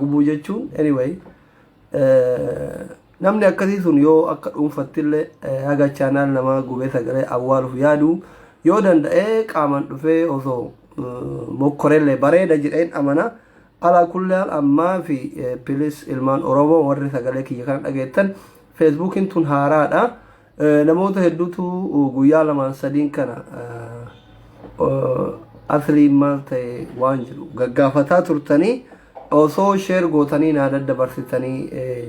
gubuu jechuun anyway namni akkasii sun yoo akka dhuunfattillee haga chaanaal namaa gubee sagalee awwaaluuf yaadu yoo danda'ee qaaman dhufee osoo mokkorellee bareeda jedheen amana alaa kullaan ammaa fi pilis ilmaan oromoo warri sagalee kiyya kana dhageettan feesbuukiin tun haaraadha Namoota hedduutu guyyaa lamaan sadiin kana asriin maal ta'e waan jedhu gaggaafataa turtanii osoo sheer gootanii naa daddabarsitanii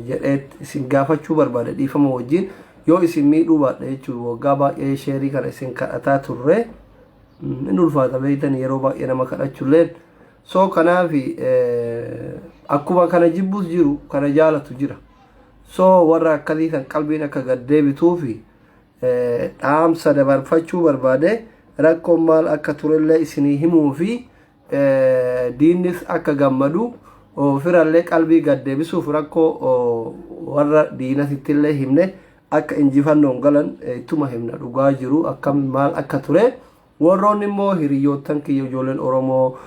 jedhee isin gaafachuu barbaade dhiifama wajjin yoo isin miidhuu baadhe jechuun waggaa baay'ee sheerii kana isin kadhataa turre hin ulfaata beektan yeroo baay'ee nama kadhachuulleen soo kanaaf akkuma kana jibbus jiru kana jaalatu jira. So warra akkasii kan qalbiin akka gad deebituufi dhaamsa dabarfachuu barbaade rakkoon maal akka turellee isinii himuu fi diinnis akka gammadu firallee qalbii gad deebisuuf rakkoo warra diinasittillee himne akka injifannoon galan ittuma himna dhugaa jiru akkam maal akka ture. Worroonni immoo hiriyyoottan kiyya ijoolleen Oromoo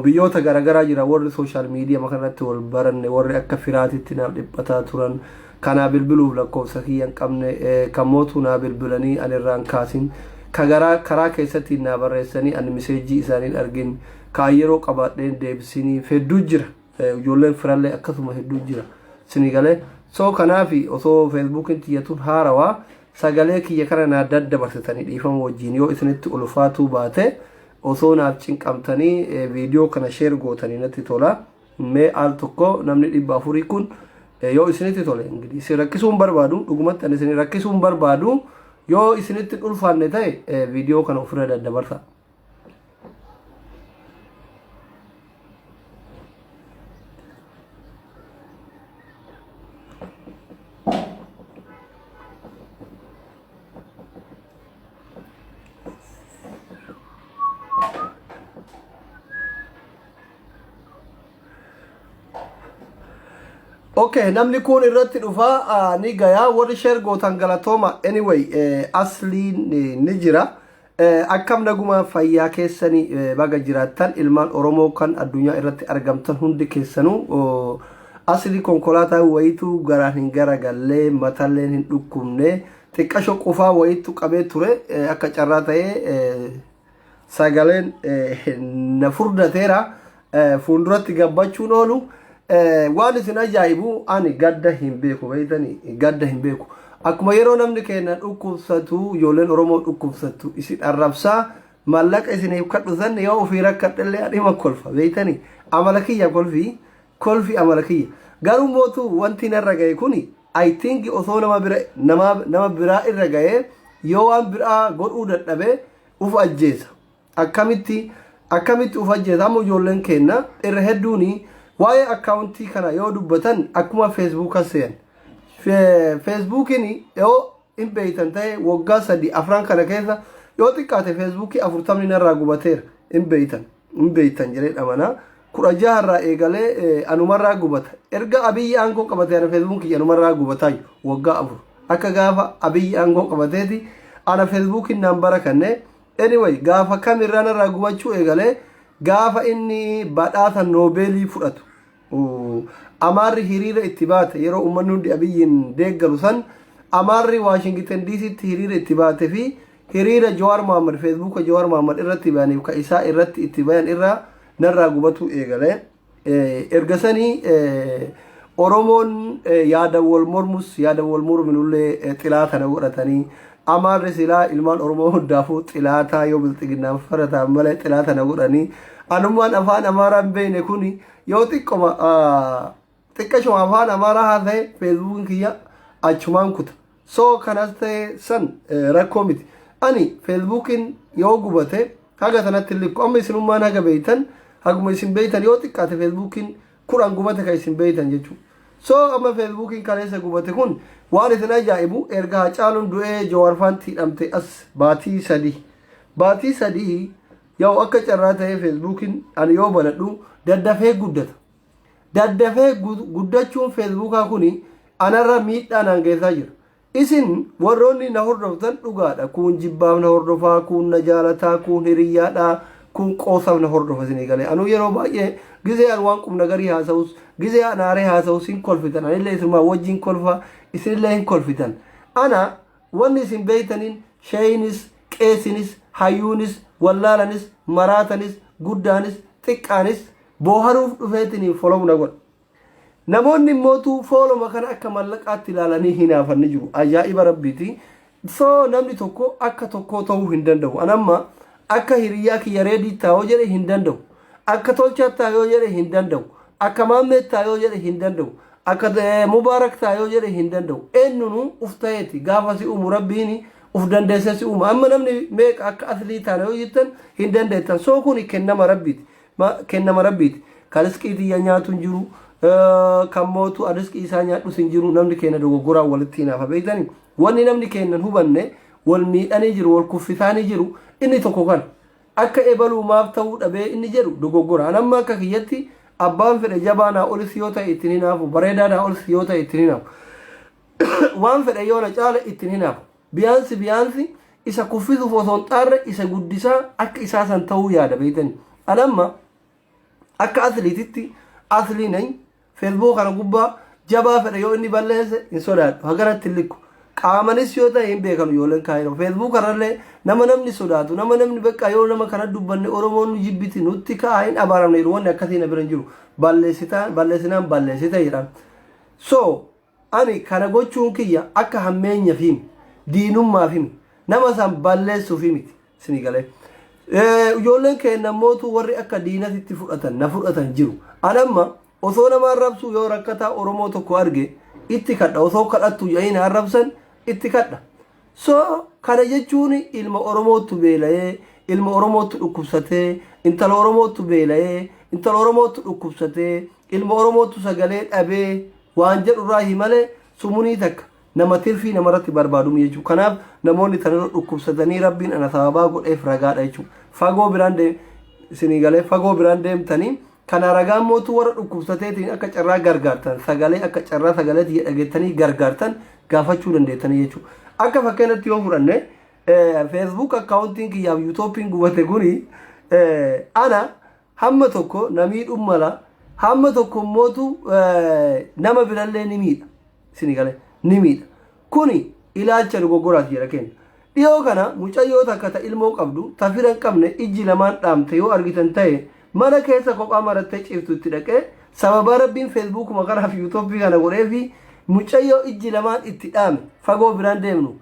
biyyoota garagaraa jiran worri social medium kanarratti wol baranne worri akka firaatitti naaf dhiphataa turan ka naa bilbiluuf lakkoofsa kiyya hin qabne kan mootuu naa bilbilanii ani irraa hin kaasin ka garaa karaa keessattiin naa barreessanii ani miseejjii isaanii hin argin ka an yeroo qabaadheen deebisiiniif hedduu jira. Ijoolleen firallee akkasuma hedduu jira. Sini galee. So kanaaf osoo feesbuukiin tiyya tun haarawaa sagalee kiyya kana naa daddabarsitanii dhiifama wajjin yoo isinitti ulfaatuu baate osoo naaf cinqamtanii eh, viidiyoo kana sheer gootanii natti tola. Mee al tokko namni dhibba afurii kun eh, yoo isinitti tole ingilis isin rakkisuu hin barbaadu dhugumatti ani isin rakkisuu hin barbaadu yoo isinitti hin ulfaanne ta'e eh, viidiyoo kana ofirra daddabarsa. Okay, namni kun irratti dhufa ah, ni gaya warri share gootan galatooma anyway eh, asliin eh, ni jira Akkam naguma fayyaa keessani baga jiraattan ilmaan Oromoo kan addunyaa irratti argamtan hundi keessanuu asli konkolaataa wayitu garaan hin garagallee matalleen hin dhukkubne xiqqasho qufaa wayitu qabee ture akka carraa ta'ee sagaleen na furdateera fuulduratti gabbachuun oolu waan isin ajaa'ibu ani gadda hin beeku beektanii gadda hin beeku akkuma yeroo namni keenya dhukkubsatu ijoolleen oromoo dhukkubsattu isin arrabsaa mallaqa isiniif kadhu san yoo ofii rakkadhellee dhima kolfa beektanii amala kiyya kolfi kolfi amala kiyya garuu mootu wanti narra ga'e kuni I think osoo nama bira nama nama biraa irra ga'ee yoo waan biraa godhuu dadhabee uf ajjeesa Akkamitti akkamitti uf ajjeesa amma ijoolleen keenna irra hedduun waa'ee akkaawuntii kana yoo dubbatan akkuma feesbuuka seeyan feesbuukiin yoo hin beeytan ta'e waggaa sadii afran kana keessa yoo xiqqaate feesbuukii afurtamni narraa gubateera hin beeytan hin beeytan jedhee dhamana kudha jaha irraa eegalee anumarraa gubata erga abiyyi aangoo qabate ana feesbuukii anumarraa gubataayu waggaa afur akka gaafa abiyyi aangoo qabateeti ana feesbuukiin naan bara kannee Anyway, gaafa kam irraa narraa gubachuu eegale gaafa inni badhaasa noobeelii fudhatu. Uu, Amaarri hiriira itti baate yeroo uummanni hundi Abiyyiin deeggaru san Amaarri Waashingiten DCtti hiriira itti baate fi hiriira Jawaar Mohaammed Feesbuuka Jawaar Mohaammed irratti bayaniif ka isaa irratti itti bayan irraa narraa gubatuu eegale. Erga sanii Oromoon yaada wal mormus yaada wal morminullee xilaa kana godhatanii amaarri silaa ilmaan Oromoo hundaafuu xilaataa yoo bilxiginnaan farataan malee xilaa kana godhanii anummaan afaan amaaraa hin beekne kun yoo xiqqoma xiqqashuma afaan amaaraa haasa'e feesbuukiin kiyya achumaan kuta so kanas ta'e san rakkoo miti ani feesbuukiin yoo gubate haga tanatti hin likku amma isinummaan haga beeytan haguma isin beeytan yoo xiqqaate feesbuukiin kudhan gubate kan isin beeytan jechuudha so amma feesbuukiin kaleessa gubate kun waan isin ajaa'ibu erga hacaaluun du'ee jawaarfaan tiidhamte as baatii sadii baatii sadii yaa'u akka carraa ta'ee feesbuukiin ani yoo banadhu daddafee guddata Daddafee guddachuun feesbuukaa kun anarra miidhaa naan geessaa jira. Isin warroonni na hordoftan dhugaadha. Kuun jibbaaf na hordofaa, kuun na jaalataa, kuun hiriyyaadha, kuun qoosaaf na hordofa isinii galee. Anuu yeroo baay'ee gizee an waan qubna garii haasa'us, gizee an aaree haasa'us hin kolfitan. Anillee isinumaa wajjin kolfa, isinillee hin kolfitan. Ana wanni isin beektaniin sheeyinis, qeesinis, hayyuunis, wallaalanis, maraatanis, guddaanis, xiqqaanis Booharuuf dhufeetiniin follow na godha. Namoonni immootuu fooloma kana akka mallaqaatti ilaalanii hinaafan ni jiru. Ajaa'iba rabbiiti. So namni tokko akka tokkoo ta'uu hin danda'u. An amma akka hiriyyaa kiyya reedii taa'oo jedhe hin danda'u. Akka tolchaa taa'oo jedhe hin danda'u. Akka maammee taa'oo jedhe hin danda'u. Akka eh, mubaarak taa'oo jedhe hin danda'u. Eenyunu uf ta'eeti gaafa si uumu rabbiin uf dandeessee si uuma. Amma namni meeqa akka aslii taana yoo jettan hin dandeettan. So kuni kennama rabbiiti. ma kennama rabbiiti ka risqii tiyya nyaatu hin jiru eh, kan mootu an risqii isaa nyaadhus hin jiru namni keenya dogoggoraan walitti hinaafa beektani wanni namni keenya hin hubanne wal miidhanii jiru wal kuffisaanii jiru inni tokko kana akka ebaluu maaf ta'uu dhabee inni jedhu dogoggora an amma akka kiyyatti abbaan fedhe jabaa naa olis yoo ta'e ittiin hinaafu bareedaa naa olis yoo ta'e ittiin hinaafu waan fedhe yoo na caale ittiin hinaafu Biyaansi biyaansi isa kuffisuuf osoo hin xaarre isa guddisaa akka isaa san ta'uu yaada beeytani. An amma akka asliititti aslii nay feesbuuka kana gubbaa jabaa fedha yoo inni balleesse hin sodaadhu haganatti hin likku. Qaamanis yoo ta'e hin beekanu ijoolleen kaayiroo. Feesbuuka irrallee nama namni sodaatu nama namni beekaa yoo nama kana dubbanne Oromoon nu jibbiti nutti ka'a hin abaaramne jedhu wanni akkasii na bira hin jiru. Balleessitaan balleessinaan balleessite jedhaan. So Ani kana gochuun kiyya akka hammeenyafimi, diinummaafimi, nama san balleessuufi miti. Isinii galee? Ijoolleen keenna ammootu warri akka diinatitti fudhatan, na fudhatan jiru. An amma osoo nama arrabsuu yoo rakkataa Oromoo tokko arge itti kadha. Osoo kadhattu jedhanii na arrabsan itti kadha. So kana jechuun ilma Oromoottu beela'ee, ilma Oromoottu dhukkubsatee, intala Oromoottu beela'ee, intala Oromoottu dhukkubsatee, ilma Oromoottu sagalee dhabee waan jedhu irraahi malee sumunii takka nama tirfii namarratti barbaadu miti jechuudha. Kanaaf namoonni tanarra dhukkubsatanii Rabbiin ana sababaa godheef ragaadha jechuudha. Fagoo biraan deem isinii galee fagoo biraan deemtanii Kana ragaan mootuu warra dhukkubsateetiin akka carraa gargaartan sagalee akka carraa sagalee tiyya dhageettanii gargaartan gaafachuu dandeettanii jechuudha. Akka fakkeenyatti yoo fudhanne feesbuuk akkaawuntiin kiyyaaf yuutooppiin gubate kuni ana hamma tokko na miidhuu mala hamma tokko mootu nama birallee ni miidha. Isin gale ni miidha. Kuni ilaalcha dogoggoraati jedha Ken. Dhiyoo kana mucayyoo takka ta ilmoo qabdu ta fira hin qabne ijji lamaan dhaamte yoo argitan tahe mana keessa kophaa marattee ciiftu itti dhaqee sababaa rabbiin feesbuukuma kanaaf yuutoppii kana godheefi mucayyoo ijji lamaan itti dhaame fagoo biraan deemnu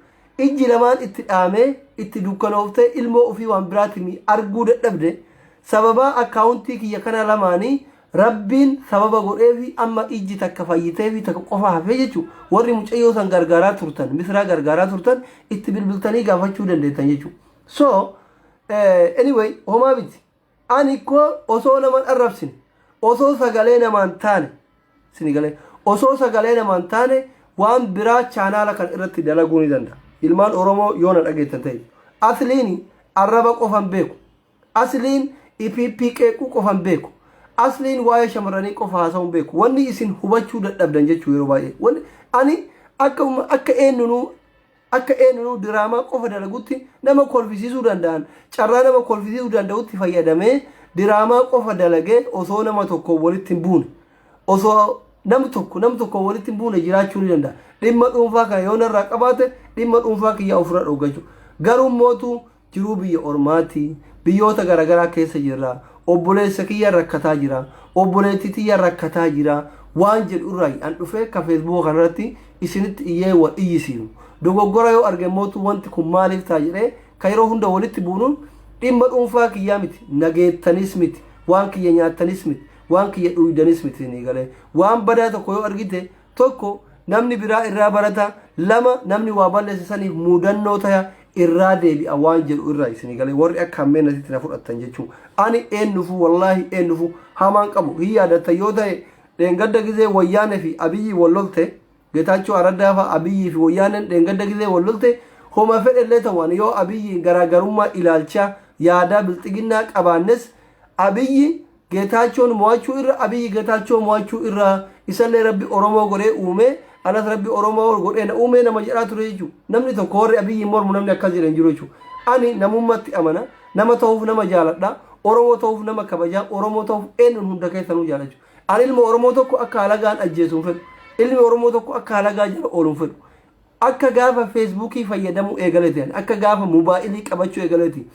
ijji lamaan itti dhaamee itti dukkanooftee ilmoo ofii waan biraatimi arguu dadhabde sababaa akkaawuntii kiyya kana lamaanii Rabbiin sababa godheefi amma ijji takka fayyiteefi takka qofa hafee jechu warri mucayyoo san gargaaraa turtan misraa gargaaraa turtan itti bilbiltanii gaafachuu dandeettan jechu so eh, anyway homaa miti ani koo osoo naman arrabsine osoo sagalee namaan taane sini galee osoo sagalee namaan taane waan biraa chaanaala kan irratti dalaguu ni danda'a ilmaan oromoo yoo na dhageettan ta'e asliini arraba qofan beeku Asliin ipp qeequu qofa hin beeku. Asliin waa'ee shamarranii qofa haasa'uu hin beeku. Wanni isin hubachuu dadhabdan jechuu yeroo baay'ee. Wanni ani akka umma- akka eenyunuu akka eenyunuu diraamaa qofa dalagutti nama kolfisiisuu danda'an carraa nama kolfisiisuu danda'utti fayyadamee diraamaa qofa dalagee osoo nama tokko walitti hin buune. Osoo nam tokko nam tokko walitti hin buune jiraachuu ni danda'a. Dhimma dhuunfaa kana yoo narraa qabaate dhimma dhuunfaa kiyyaa ofirra dhoggachuu. Garuu mootu jiruu biyya ormaati biyyoota garagaraa keessa jirra obboleessa kiyya rakkataa jira obboleetti tiyya rakkataa jira waan jedhu irraayi an dhufee akka feesbuuka kanarratti isinitti iyyee wal iyyisiinu dogoggora yoo arge mootu wanti kun maaliif ta'a jedhee ka yeroo hunda walitti buunuun dhimma dhuunfaa kiyyaa miti nageettanis miti waan kiyya nyaattanis miti waan kiyya dhuuydanis miti isinii galee waan badaa tokko yoo argite tokko namni biraa irraa barata lama namni waa balleesse saniif muudannoo taya irraa deebi'a waan jedhu irraa isinii galee warri akka hammee nasitti na fudhattan jechuun ani eenyufu wallaahi eenyufu hamaan qabu hin yaadatta yoo ta'e dheengadda gizee wayyaanee fi abiyyii wal lolte getaachoo araddaa fa'a abiyyii fi wayyaaneen dheengadda gizee wal lolte homa fedhellee ta'uwaan yoo abiyyiin garaagarummaa ilaalchaa yaadaa bilxiginnaa qabaannes abiyyi Getaachoon mo'achuu irra Abiy Getaachoo mo'achuu irra isallee rabbi Oromoo godhee uumee anas rabbi Oromoo godhee na uumee nama jedhaa ture jechuu namni tokko warri Abiyyiin mormu namni akkas jedhe hin jiru jechuu ani namummatti amana nama ta'uuf nama jaaladha Oromoo ta'uuf nama kabajaa Oromoo ta'uuf eenyuun hunda keessanuu jaalachu ani ilma Oromoo tokko akka halagaan ajjeesu hin fedhu ilmi Oromoo tokko akka halagaa jala oolu hin fedhu Akka gaafa Feesbuukii fayyadamuu eegaleti ani. Akka gaafa mobaayilii qabachuu eegaleti.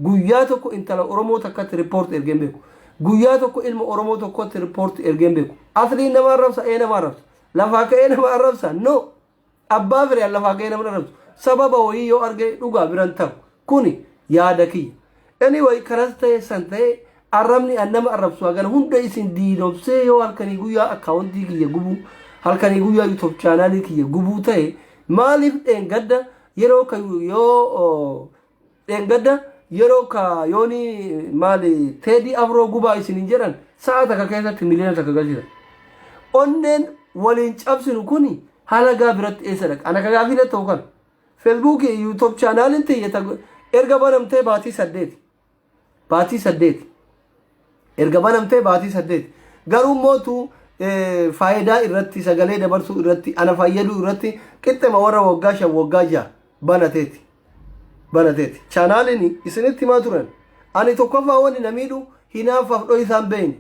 Guyyaa tokko intala Oromoo takkatti report ergee hin beeku. Guyyaa tokko ilma Oromoo tokkotti report ergee hin beeku. Asliin nama arrabsa, ee nama arrabsa. Lafaa ka'ee nama arrabsa, no. Abbaa firiyaan lafaa ka'ee nama arrabsu. Sababa wayii yoo arge dhugaa biran taru. Kuni yaada kiyya. Anyway karas ta'e san ta'e arrabni an nama arrabsu hagan hunda isin diinomsee yoo halkanii guyyaa akkaawwantii kiyya gubuu halkanii guyyaa yuutuub chaanaalii kiyya gubuu ta'e maaliif dheengadda yeroo ka yoo oo, dheengadda yeroo ka yooni maali teedii afroo gubaa isin hin jedhan sa'a takka keessatti miliyoona takka galchita. Onneen waliin cabsinu kuni halagaa biratti eessa dhaqa? Ana ka gaafii na ta'u kana. Facebook YouTube channel tiyya ta erga banamtee baatii saddeeti. Baatii saddeeti. Erga banamtee baatii saddeeti. Garuu mootu faayidaa irratti sagalee dabarsuu irratti ana fayyaduu irratti qixxema warra waggaa shan waggaa ja'a banateeti. Banateeti. Chaanaaliin isinitti himaa turan. Ani tokkoffaa wanni na miidhu hinaaffaaf dho'isaan beeyne.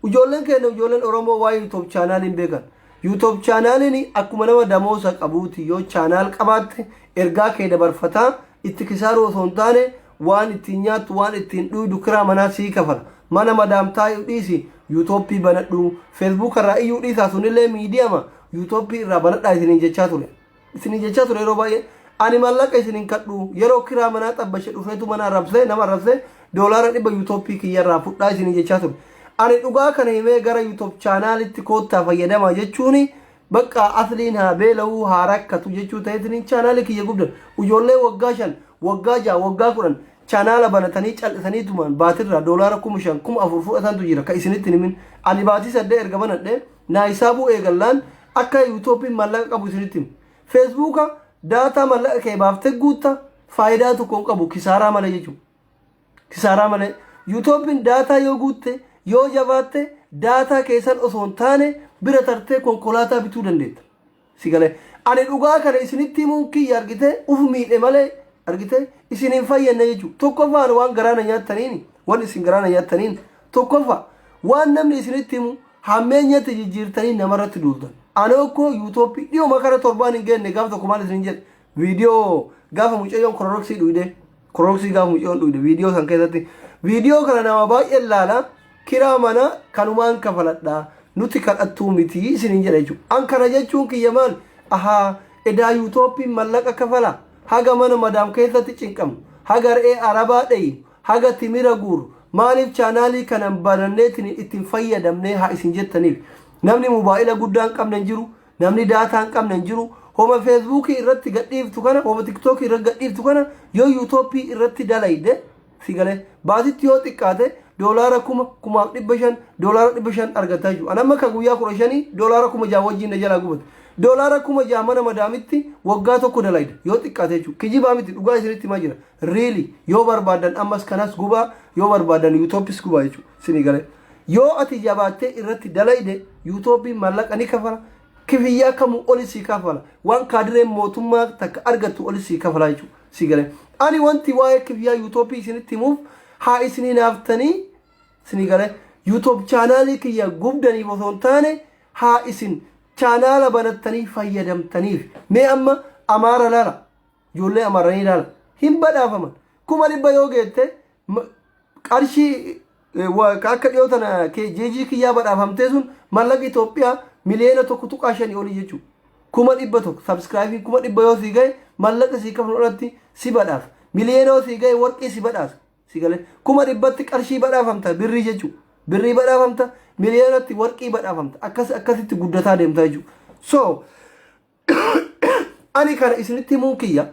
Ijoolleen keenya ijoolleen Oromoo waa'ee YouTube chaanaalii hin beekan. YouTube chaanaaliin akkuma nama damoosa qabuuti yoo chaanaal qabaatte ergaa kee dabarfataa itti kisaaruu osoo hin taane waan ittiin nyaattu waan ittiin dhuydu kiraa manaa sii kafala. Mana madaam taa'u dhiisi YouTube banadhu Facebook irraa iyyuu dhiisaa sunillee miidiyama YouTube irraa banadhaa isiniin jechaa ture. isinii jechaa ture yeroo baay'ee ani maallaqa isin hin kadhu yeroo kiraa manaa xabbashe dhufeetu mana arrabsee nama arrabsee doolaara dhibba yuutooppii kiyyarraa fudhaa isinii jechaa ture ani dhugaa kana himee gara yuutoop chaanaalitti koottaa fayyadamaa jechuun bakka asliin haa beela'uu haa rakkatu jechuu ta'eetiin chaanaalii kiyya gubdan ijoollee waggaa shan waggaa ja'a waggaa kudhan chaanaala banatanii cal'isanii tumaan baatirraa doolaara kuma shan kuma afur fudhatantu jira ka isinitti himin ani baatii saddeet erga banadhee Naa hisaabuu eegallaan akka yuutooppiin maallaqa qabu isinitti hima. Feesbuuka daataa maallaqa kee baaftee guutta faayidaa tokko hin qabu kisaaraa malee jechuudha. Kisaaraa malee yuutooppiin daataa yoo guutte yoo jabaatte daataa keessan osoo hin taane bira tartee konkolaataa bituu dandeetta. Si galee. Ani dhugaa kana isinitti himuun kiyya argitee uf miidhe malee argitee isin hin fayyadne jechuudha. Tokkoffaa ani waan garaa na nyaattaniin waan isin garaa na nyaattaniin tokkoffaa waan namni isinitti himu hammeenyatti jijjiirtanii namarratti duultan. Ani okkoo yuutooppii dhiyuma kana torbaan hin geenne gaaf tokko maal isin jedhe Viidiyoo gaafa mucayyoon kororoksii dhuyde kororoksii gaafa mucayyoon dhuyde viidiyoo san keessatti viidiyoo kana nama baay'een laala kiraa mana kanumaan kafaladha nuti kadhattuu miti isiniin jedha jechuudha. An kana jechuun kiyya maal ahaa edaa yuutooppiin mallaqa kafala haga mana madaam keessatti cinqamu haga re'ee arabaa dheeyu haga timira guuru maaliif chaanaalii kanan bananneetiin ittiin fayyadamnee haa isin jettaniif namni mobaayila guddaan qabne hin jiru Namni daataa hin qabne hin jiru. Homa feesbuukii irratti gadhiiftu kana, homa tiktookii irratti gadhiiftu kana yoo yuutoopii irratti dalayde si galee baatitti yoo xiqqaate doolaara kuma kumaaf dhibba shan doolaara dhibba shan argataa jiru. Anamma ka guyyaa kudha shanii doolaara kuma jaha wajjin na jalaa gubate. Doolaara kuma jaha mana madaamitti waggaa tokko dalayde yoo xiqqaate jechuudha. Kijibaa miti dhugaa isinitti himaa jira. Really yoo barbaadan ammas kanas gubaa yoo barbaadan yuutoopis gubaa jechuudha isinii galee. Yoo ati jabaattee irratti dalayde yuutoopiin maallaqa ni kafala kifiyyaa kamuu oli sii kafala waan kaadireen mootummaa takka argattu oli sii kafala jechuudha sii galee. Ani wanti waa'ee kifiyyaa yuutoopii isinitti himuuf haa isinii naaftanii isinii galee yuutoob chaanaalii kiyya gubdaniif osoo hin taane haa isin chaanaala banattanii fayyadamtaniif mee amma amaara lala. ijoollee amaaraa ni ilaala hin badhaafaman kuma dhibba yoo geette ma- qarshii eh, wa- ka akka dhiyoo tana ke- jeejii kiyyaa badhaafamtee sun mallaqa Itoophiyaa miliyoona tokko tuqaa shanii olii jechuudha. Kuma dhibba tokko sabskraayibiin kuma dhibba yoo sii gahe mallaqa sii kafnu irratti si badhaasa. Miliyoona yoo sii gahe warqii si badhaasa. Si galee kuma dhibbatti qarshii badhaafamta birrii jechuudha. Birrii badhaafamta miliyoonatti warqii badhaafamta akkas akkasitti guddataa deemta jechuudha. So Ani kana isinitti himuun kiyya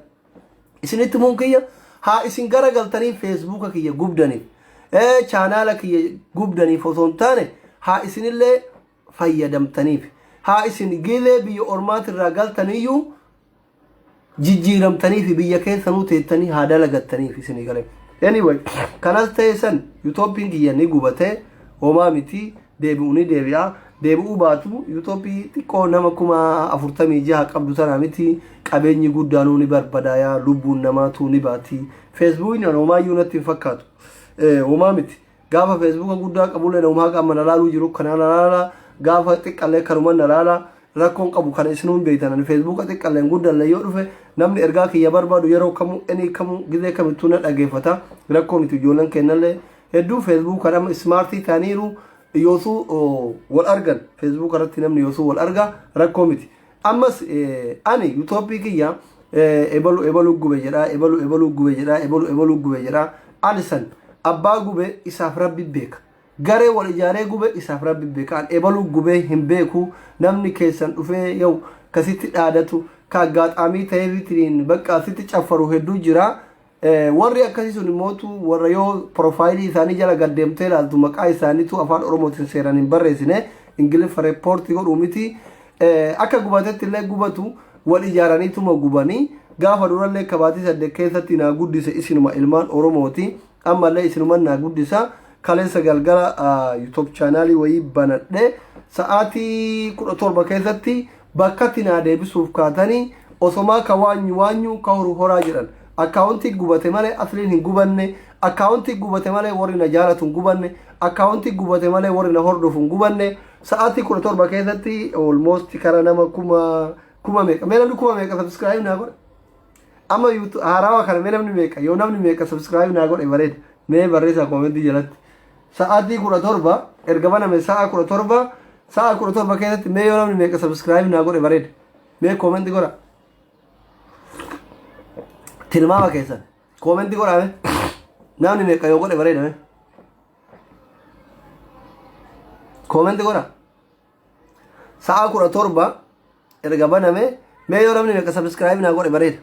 isinitti himuun kiyya haa isin gara galtanii feesbuuka kiyya gubdaniif ee chaanaala kiyya gubdaniif osoo hin taane haa isinillee fayyadamtaniif haa isin gilee biyya ormaatirraa galtaniyyuu jijjiiramtanii fi biyya keessanuu teettanii haa dalagattaniif isinii galee. Anyway, kanas ta'e san yuutooppiin kiyya ni gubatee homaa miti deebi'u ni deebi'a. Deebi'uu baatu Yuutoopii xiqqoo nama kuma afurtamii jaha qabdu tana miti qabeenyi guddaanuu ni barbadaaya lubbuun namaatu ni baati. Feesbuukni an homaayyuu natti hin fakkaatu. Eh, Homaa miti. Gaafa feesbuuka guddaa qabullee nama haqa amma na laaluu jiru kana na laala. Gaafa xiqqallee kanuma na laala. Rakkoon qabu kana isinuu hin beektan. Ani feesbuuka xiqqalleen guddallee yoo dhufe namni ergaa kiyya barbaadu yeroo kamuu, enii kamuu, gizee kamittuu na dhageeffata. Rakkoo miti ijoolleen keennallee Hedduu Facebook kan amma ismaartii ta'aniiru yoosuu wal argan Facebook irratti namni yoosuu wal arga rakkoo miti. Ammas ani yuutoopii kiyya ebalu ebalu gube jedha ebalu ebalu gube jedha ebalu ebalu gube jedha alisan abbaa gube isaaf rabbi beeka. Garee wal ijaaree gube isaaf rabbi beeka an ebalu gubee hin beeku namni keessan dhufee yoo kasitti dhaadatu ka agaaxaamii ta'eefitiin bakka asitti caffaru hedduu jira. Warri akkasii sun immootu warra yoo porofaayilii isaanii jala gad deemtee ilaaltu maqaa isaaniitu afaan oromootiin seeraan hin barreessine ingiliffa reeppoortii godhuu miti akka gubatetti illee gubatu wal ijaaraniituma gubanii gaafa durallee kabaatii saddeet keessatti naa guddise isinuma ilmaan oromooti ammallee isinuma naa guddisa kaleessa galgala yuutuub chaanaalii wayii banadhe sa'aatii kudha torba keessatti Bakkatti naa deebisuuf kaatanii osomaa ka waanyu waanyu ka horu horaa jedhan. Akkaawontii gubate malee Asliin hin gubanne, akkaawontii gubate malee warri na jaalatu hin gubanne, akkaawontii gubate malee warri na hordofu hin gubanne. Sa'aatii 17 keessatti almost kara nama kuma kuma meeqa mee namni kuma meeqa subscribe naa godhe amma yuutu haarawa kana mee namni meeqa yoo namni meeqa subscribe naa godhe bareeda mee barreessaa koomentii jalatti Sa'aatii 17 erga baname sa'a 17 sa'a 17 keessatti mee yoo namni meeqa subscribe naa godhe bareeda mee comment godha tilmaama keessan comment godha mee namni meeqa yoo godhe bareeda mee comment godha Sa'a kudha torba erga baname mee yoo namni meeqa sabiskiraayibii naa godhe bareeda.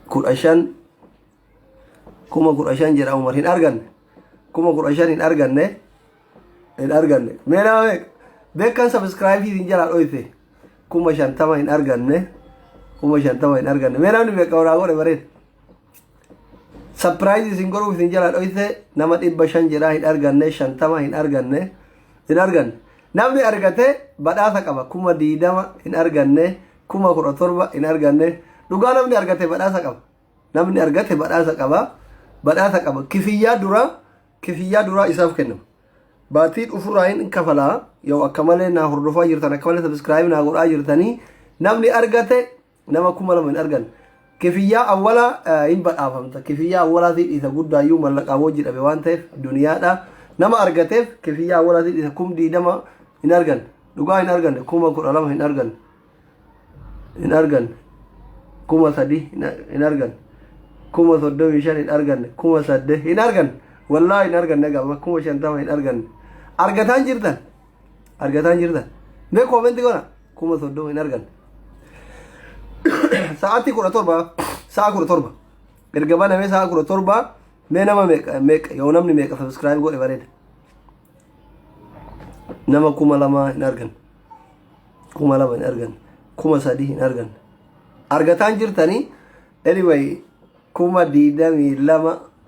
kudha shan kuma kudha shan jedha umar hin arganne kuma kudha shan hin arganne hin arganne mee nama meeqa beekan sabiskiraayibii isin jalaa dhoyse kuma shantama hin arganne kuma shantama hin arganne mee namni meeqa naa godhe bareeda. Sapiraayizi isin godhuuf isin jala dhoyse nama dhibba shan jedhaa hin arganne shantama hin arganne hin arganne. Namni argate badhaasa qaba kuma diidama hin arganne kuma kudha torba hin arganne dhugaa namni argate badhaasa qaba. Namni argate badhaasa qaba badhaasa qaba kifiyyaa duraa kifiyyaa duraa isaaf kennama. Baatii dhufurraa hin kafalaa yoo akka malee naa hordofaa jirtan akka malee sabiskiraayib naa godhaa jirtanii namni argate nama kuma lama hin argan kifiyyaa awwalaa hin badhaafamta kifiyyaa awwalaatiin isa guddaayyuu mallaqaa wajji dhabe waan ta'eef duniyaadha nama argateef kifiyyaa awwalaatiin isa kum diidama hin argan dhugaa hin argan kuma kudha lama hin argan hin argan kuma sadii hin argan kuma soddomii shan hin argan kuma sadde hin argan wallaahi hin argan nagaa kuma shantama hin argan argataan jirtan argataa hin jirtan mee koomenti godha kuma soddoma hin arganne sa'aatii kudha torba sa'a kudha torba erga banamee sa'a kudha torba mee nama meeqa meeqa yoo namni meeqa sabiskiraayib godhe bareeda nama kuma lama hin arganne kuma lama hin arganne kuma sadii hin arganne argataan jirtanii anyway kuma digdamii lama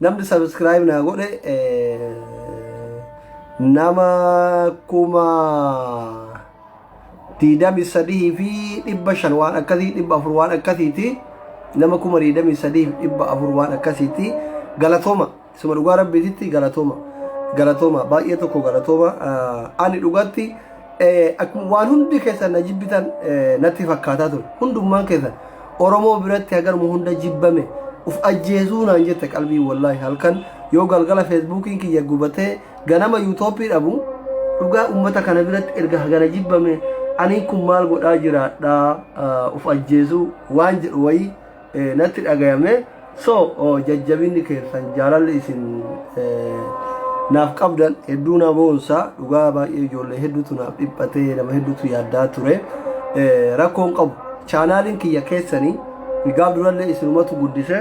Namni subscribe naa godhe nama kuma diidami sadihii fi dhibba shan waan akkasii dhibba afur waan akkasiiti nama kuma diidami sadihii fi dhibba afur waan akkasiiti galatooma suma dhugaa rabbiititti galatooma galatooma baay'ee tokko galatooma ani dhugatti Akkuma waan hundi keessan na jibbitan natti fakkaataa ture. Hundummaan keessan Oromoo biratti hagaruma hunda jibbame uf ajjeesuu naan jette qalbii wallaahi halkan yoo galgala feesbuukiin kiyya gubatee ganama yuutoopii dhabu dhugaa uummata kana biratti erga hagana jibbame aniin kun maal godhaa jiraadhaa uf ajjeesuu waan jedhu wayii natti dhagayame so jajjabinni keessan jaalalli isin naaf qabdan hedduu na boonsa dhugaa baay'ee ijoollee hedduutu naaf dhiphatee nama hedduutu yaaddaa ture rakkoon qabu chaanaaliin kiyya keessanii gaaf durallee isinumatu guddise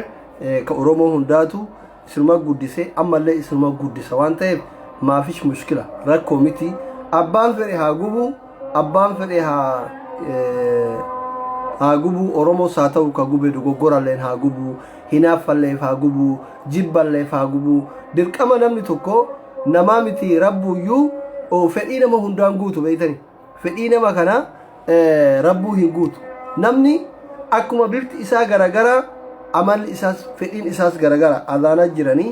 ka oromoo hundaatu isinuma guddise ammallee isinuma guddisa waan ta'eef maafish mushkila rakkoo miti abbaan fedhe haa gubu abbaan fedhe haa eh, haa gubuu oromoos haa ta'u ka gube dogoggoralleen haa gubuu hinaaffalleef haa gubuu jibballeef haa gubuu dirqama namni tokko namaa miti rabbuuyyuu oh, fedhii nama hundaan guutu beeytanii fedhii nama kana eh, rabbuu hin guutu namni akkuma bifti isaa garagara amalli isaas fedhiin isaas garagara azaanaa jiranii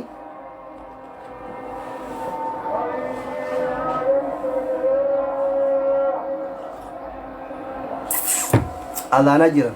azaanaa jiran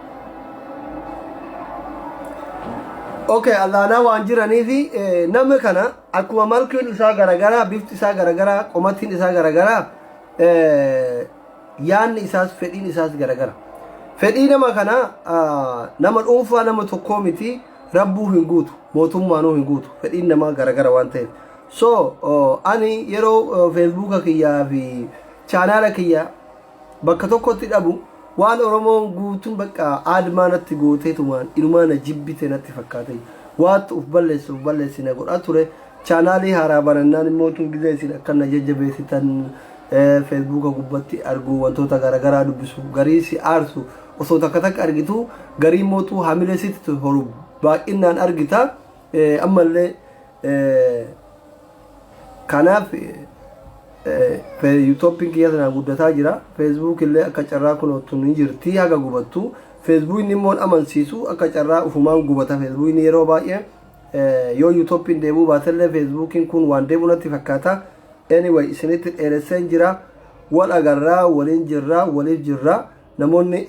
Okay, allaanaa waan jiraniif eh, nama kana akkuma malkuun isaa garagaraa, bifti isaa garagaraa, qomatiin isaa garagaraa, eh, yaanni isaas fedhiin isaas garagara. Fedhii nama kana ah, nama dhuunfaa nama tokkoo miti rabbuu hin guutu, mootummaanuu hin guutu. Fedhiin namaa garagara waan ta'eef. So, oh, ani yeroo oh, feesbuuka kiyyaa fi chaanaala kiyya bakka tokkotti dhabu waan oromoon guutuun bakka aadmaa natti gootee tumaan inumaa na jibbite natti fakkaate waattu uf balleessu uf balleessi na godhaa ture chaanaalii haaraa banannaan immoo tuu gizee isin akka na jajjabeessitan feesbuuka gubbatti argu wantoota garagaraa dubbisu garii si aarsu osoo takka takka argitu garii immoo tuu hamilee sitti horu baay'innaan argita ammallee Kanaaf yuutoppiin kiyya tanaa guddataa jira. Feesbuuk illee akka carraa kunoottu ni jirti haga gubattu. Feesbuukni immoo amansiisu akka carraa ufumaan gubata feesbuukni yeroo baay'ee yoo yuutoppiin deebuu baatellee feesbuukiin kun waan deebu natti fakkaata. Anyway isinitti dheeresseen jira. Wal agarraa waliin jirra waliif jirra. Namoonni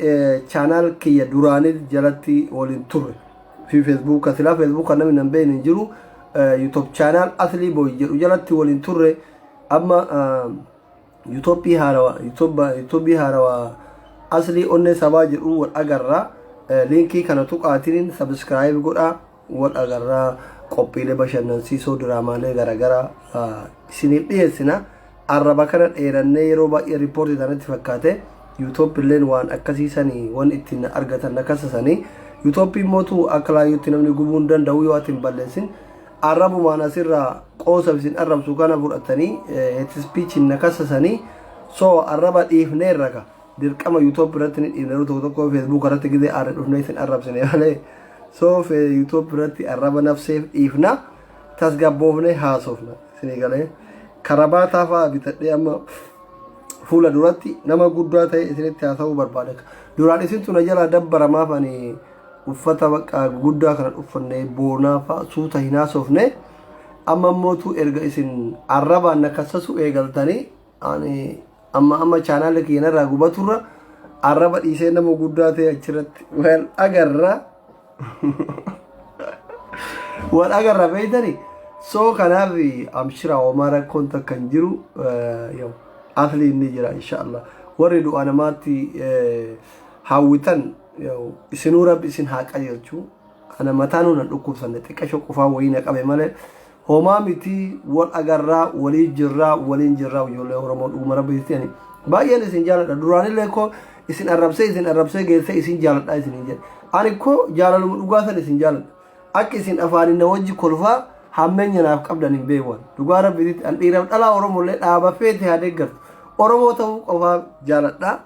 channel kiyya duraanil jalatti waliin turre fi facebook ka silaa facebook kan namni nan beekne hin jiru youtube channel aslii boy jedhu jalatti waliin turre amma youtube haarawa youtube haarawa aslii onnee sabaa jedhu wal agarra linkii kana tuqaatiin subscribe godhaa wal agarra qophiilee bashannansiisoo diraamaalee garagaraa isiniif dhiyeessina arraba kana dheerannee yeroo baay'ee riippoortii tanatti fakkaate yuutooppiilleen waan akkasii sanii waan ittiin na argatan na kasasanii yuutooppii mootu akka laayyootti namni gubuu hin danda'u yoo ati hin balleessin arrabumaan asirraa qoosa isin arrabsu kana fudhatanii heetispiichiin na kasasanii soo arraba dhiifneerra ka dirqama yutob irratti ni dhiibna yeroo tokko tokko feesbuuk irratti gizee aarre dhufnee isin arrabsine malee soo fee yutob irratti arraba nafseef dhiifna tasgabboofne haasofna isinii galee karabaataa fa'aa bitadhee amma fuula duratti nama guddaa ta'e isinitti haasa'uu barbaada duraan isintu na jalaa dabbaramaaf ani uffata bakka guddaa kana uffanne boonaa fa'aa suuta hin haasofne amma immoo tu erga isin arrabaan na kassasu eegaltanii Ani amma amma chaanaala kiyya narraa gubaturra arraba dhiisee nama guddaa ta'e achirratti wal agarra. Wal agarra beektani. So kanaaf amshira homaa rakkoon takka hin jiru. Eh, yoo, Asliin ni jira inshaallah. Warri du'a namaatti eh, hawwitan yoo, isinuu rabbi isin haa qajeelchu. Ana mataa nuun hin dhukkubsanne xiqqasho qufaa wayii na qabe malee Homaa mitii wal agarraa walii jirraa waliin jirraa ijoollee Oromoo dhuguma rabbiitti ani baay'een isin jaaladha duraanillee koo isin arrabsee isin arrabsee geessee isin jaaladha isin hin jedhe ani koo jaalaluma dhugaa san isin jaaladha akka isin afaaniin na wajji kolfaa hammeenya naaf qabdan hin beewan dhugaa rabbiitti an dhiiraaf dhalaa Oromollee dhaaba feete haa deeggartu Oromoo ta'uu qofaa jaaladha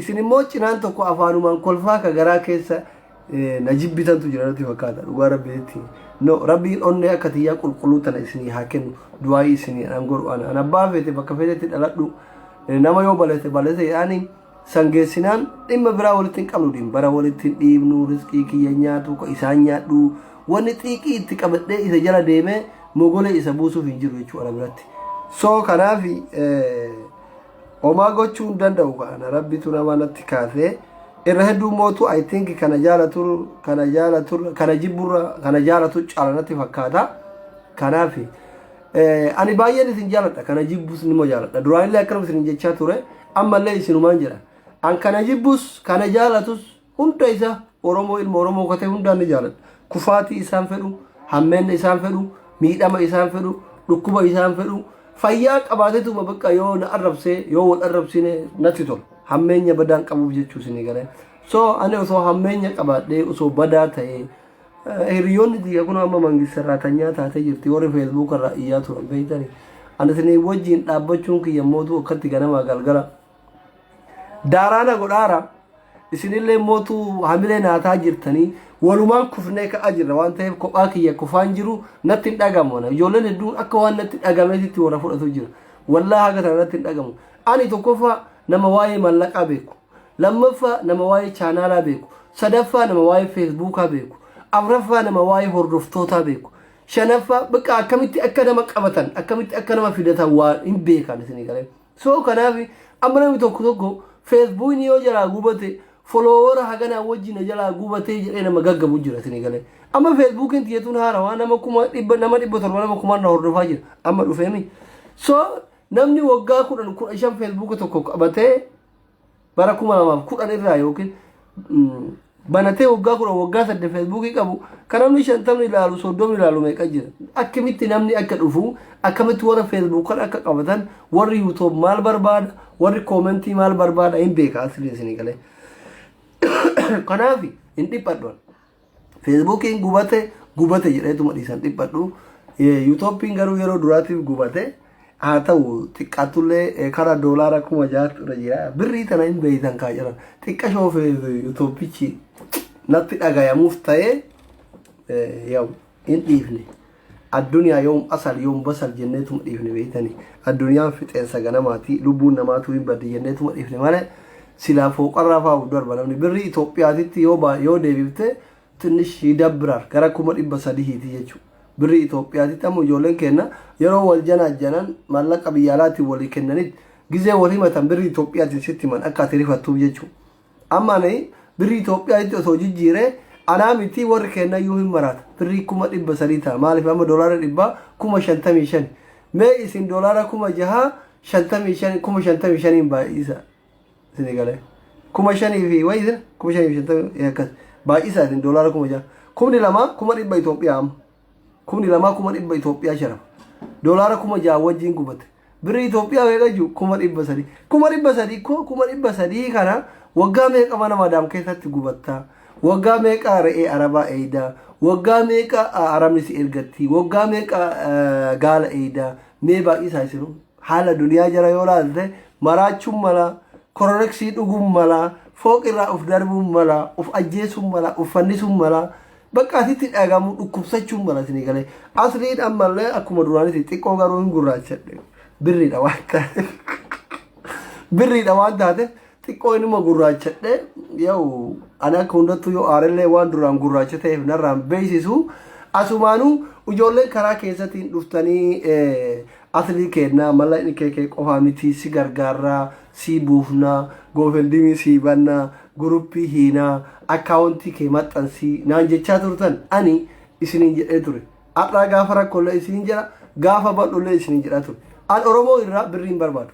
isin immoo cinaan tokko afaanumaan kolfaa ka garaa keessa na jibbitantu jira natti fakkaata dhugaa rabbiitti no rabbiin onnee akka tiyyaa qulqulluu tana isinii haa kennu du'aayii isinii an godhu ana an abbaa feete bakka feetetti dhaladhu nama yoo balete balete yaani san geessinaan dhimma biraa walitti hin qabnu dhimma bara walitti hin dhiibnu riskii kiyya nyaatu ka isaan nyaadhu wanni xiiqii itti qabadhee isa jala deemee mogolee isa buusuuf hin jiru jechuudha biratti so kanaafi Homaa gochuu hin danda'u kana rabbitu nama natti kaasee irra hedduu mootu I think kana jaalatu kana jaalatu kana jibburra kana jaalatu caala natti fakkaata. Kanaaf eh, ani baay'een isin jaaladha kana jibbus nima jaaladha duraanillee akkanuma isin jechaa ture ammallee isinumaan jedha an kana jibbus kana jaalatus Hunda isa Oromoo ilma Oromoo kate hundaan ni jaaladha. Kufaatii isaan fedhu, hammeenna isaan fedhu, miidhama isaan fedhu, dhukkuba isaan fedhu, fayyaa qabaateetuma bakka yoo na arrabsee yoo wal arrabsine natti tola. Hammeenya badaan qabuuf jechuu isinii galee. So ani osoo hammeenya qabaadhee osoo badaa ta'ee eh, hiriyoonni tiyya kun amma mangistarraa tanyaa taatee jirti warri feesbuukarraa iyyaa turan beektanii. Ani isinii wajjin dhaabbachuun kiyya mootuu akkatti ganamaa galgala daaraa na godhaara isinillee mootu hamilee naataa jirtanii walumaan kufnee ka'aa jirra waan ta'eef kophaa kiyya kufaan jiru natti hin dhagamu ana ijoolleen hedduun akka waan natti dhagameetitti warra fudhatu jira wallaa haga tana natti hin dhagamu ani tokkoffaa nama waa'ee mallaqaa beeku lammaffaa nama waa'ee chaanaalaa beeku sadaffaa nama waa'ee feesbuukaa beeku afraffaa nama waa'ee hordoftootaa beeku shanaffaa bakka akkamitti akka nama qabatan akkamitti akka nama fidatan waa hin beekan isinii galee So kanaaf amma namni tokko tokko feesbuukni yoo jalaa gubate foloowara haganaa wajji na jalaa gubatee jedhee nama gaggabu jira isin eegalee. Amma feesbuukiin tiyyatuun haarawaa nama kuma dhibba nama dhibba torba nama kumaan na hordofaa jira amma dhufeemi. So namni waggaa kudhan kudha shan feesbuuka tokko qabatee bara 2010 irraa yookiin banatee waggaa 10 waggaa 8 feesbuukii qabu kan namni 50 ilaalu 30 ilaalu meeqa jira akkamitti namni akka dhufu akkamitti warra feesbuuk kan akka qabatan warri yuutuub maal barbaada warri koomentii maal barbaada hin beeka asirri isinii galee kanaaf hin dhiphadhuan Feesbuukiin gubate gubate jedheetuma dhiisan dhiphadhu. Yuutooppiin garuu yeroo duraatiif gubate haa ta'u xiqqaattullee kara doolaara kuma jaatti irra jira. Birrii tana hin beeytan kaa jedhan xiqqa shoofee yuutooppichi natti dhagayamuuf ta'ee yaa'u hin dhiifne. Adduniyaa yoom asal yoom basal jenneetuma dhiifne beeytani. Adduniyaan fixeensa ganamaati. Lubbuun namaatuu hin baddi jenneetuma dhiifne malee silaa fooqarraa faa of darba namni. Birrii Itoophiyaatitti yoo baa yoo deebifte tinnish yidabbirar gara kuma dhibba sadihiiti jechuu. Birrii Itoophiyaatitti amma ijoolleen keenna yeroo wal janaajjanan maallaqa biyya alaatiin walii kennanitti gizee wal himatan birrii Itoophiyaatiin sitti himan akka ati rifattuuf jechuu. Amma ani birrii Itoophiyaa'itti osoo jijjiiree anaa mitii warri keennayyuu hin maraata. Birrii kuma dhibba sadii ta'a. Maaliif amma doolaara dhibbaa kuma shantamii shani. Mee isin doolaara kuma jahaa shantamii shani kuma shantamii shaniin baay'isa isinii galee. Kuma shanii fi wayii sila kuma shanii fi shantamii akkas baay'isa isin doolaara kuma jaha. Kumni lama kuma dhibba Itoophiyaa amma. Kumni lamaa kuma dhibba Itoophiyaa sharafa. Doolaara kuma ja'a wajjin gubate. Birri Itoophiyaa meeqa jiru? Kuma dhibba sadii. Kuma dhibba sadii koo kuma dhibba sadii kana waggaa meeqa mana maadaam keessatti gubatta? Waggaa meeqa re'ee arabaa eeyda? Waggaa meeqa arabni si ergatti? Waggaa meeqa gaala eeyda? Mee baay'isaa isinuu. Haala duniyaa jara yoo laalte maraachuun mala, kororeksii dhuguun mala, fooqirraa uf darbuun mala, uf ajjeesuun mala, uf fannisuun mala. Bakka asitti dhagamu dhukkubsachuun bana isinii galee. Asliin ammallee akkuma duraanitti xiqqoo garuu hin gurraachadhe. Birriidha waan ta'eef. Birriidha waan taateef xiqqoo inuma gurraachadhe. Yoo ani akka hundattuu yoo aarellee waan duraan gurraacha ta'eef narraan beeksisu. Asumaanuu ijoolleen karaa keessatiin dhuftanii eh, aslii keennaa mala inni kee kee qofaa miti si gargaarraa si buufnaa goofendimii si bannaa guruppii hiinaa akkaawontii kee maxxansii naan jechaa turtan ani isiniin jedhee ture har'aa gaafa rakkoollee isiniin jedha gaafa bal'ollee isiniin jedhaa ture an oromoo irraa birrii hin barbaadu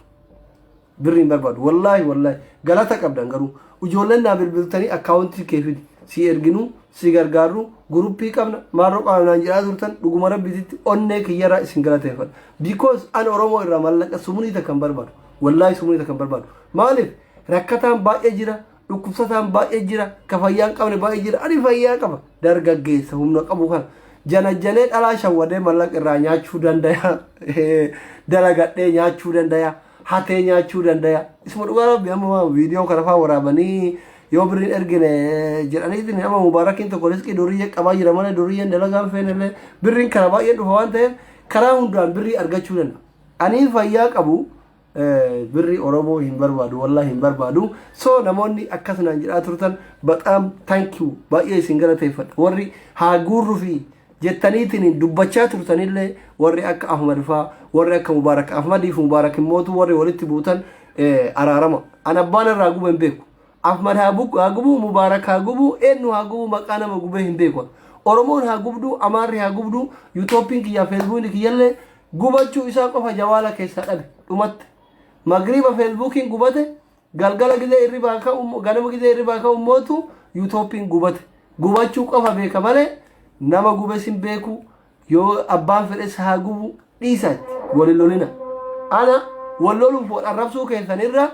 birrii hin barbaadu wallaahi wallaahi galata qabdan garuu ijoolleen naa bilbiltanii akkaawontii kee fidi si erginuu si gargaarru guruppii qabna maarroo qabna naan jedhaa turtan dhuguma rabbititti onnee kiyyarraa isin galateeffadha because an oromoo irraa mallaqa sumunii takka hin barbaadu wallaahi sumunii takka hin barbaadu maaliif Rakkataan baay'ee jira, dhukkubsataan baay'ee jira, ka fayyaa hin qabne baay'ee jira. Ani fayyaa qaba. Dargaggeessa humna qabu kana janajjanee dhalaa shawwadee mallaqa irraa nyaachuu dandaya. Dalagadhee nyaachuu dandaya. Hatee nyaachuu dandaya. Isuma dhugaa rabbi amma viidiyoo kana faa waraabanii yoo birriin ergine jedhaniitiin amma mubaarakiin tokko riskii duriyyee qabaa jira malee duriyyeen dalagaan feenellee birriin kana baay'een dhufa waan ta'eef karaa hundaan birrii argachuu danda'a. Ani fayyaa qabu birri oromoo hin barbaadu wallahi hin barbaadu so namoonni akkas naan jedhaa turtan baxaam thank you baay'ee isin galateeffadha warri haa guurru fi jettaniitiin dubbachaa turtanillee warri akka ahmad faa warri akka mubaarak ahmadii fi mubaarak immootu warri walitti buutan araarama an abbaan irraa gube hin beeku Ahmad haa bukku haa gubu Mubarak haa gubu eennu haa gubu maqaa nama gubee hin beeku Oromoon haa gubdu Amaarri haa gubdu Yutooppiin kiyyaa Feesbuukni kiyyallee gubachuu isaa qofa jawaala keessaa dhabe dhumatte Magriiba Feesbuukiin gubate galgala gizee irribaa ka'u ganama gizee irribaa ka'u mootu Yutooppiin gubate gubachuu qofa beeka malee nama gubes hin beeku Yoo abbaan fedhes haa gubu dhiisaatti wal hin lolina. Ana wal loluuf wal arrabsuu keessan irra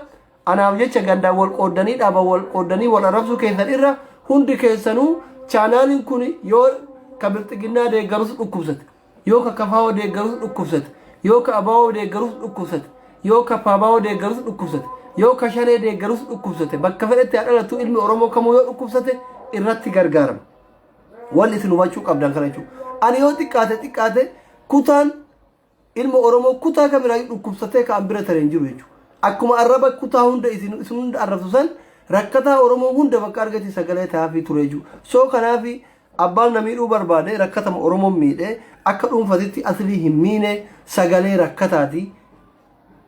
anaaf jecha gandaan wal qooddanii dhaaba wal qooddanii wal arrabsuu keessan irra hundi keessanuu chaanaaliin kun yoo ka bilxiginnaa deeggarus dhukkubsate yoo ka kafaawoo deeggarus dhukkubsate yoo ka abaawoo deeggarus dhukkubsate yoo ka paabaawoo deeggarus dhukkubsate yoo ka shanee deeggarus dhukkubsate bakka fedhetti haa dhalatu ilmi oromoo kamuu yoo dhukkubsate irratti gargaarama Wanni isin hubachuu qabdan kana jechuudha. Ani yoo xiqqaate xiqqaate kutaan ilma Oromoo kutaa kamirraa dhukkubsatee kan bira tare hin jiru jechuudha. Akkuma arraba kutaa hunda isin isin hunda arrabsu san rakkataa Oromoo hunda bakka argate sagalee taa'aafii ture jechuudha. Soo kanaafi abbaan na miidhuu barbaade rakkatama Oromoon miidhee akka dhuunfatitti asilii hin miine sagalee rakkataati.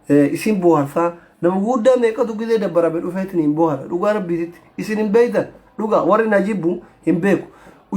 isin boharsa nama guddaa meeqatu gizee dabbarabe dhufeetin hin bohara dhugaa rabbiititti isin hin beeytan dhugaa warri na jibbu hin beeku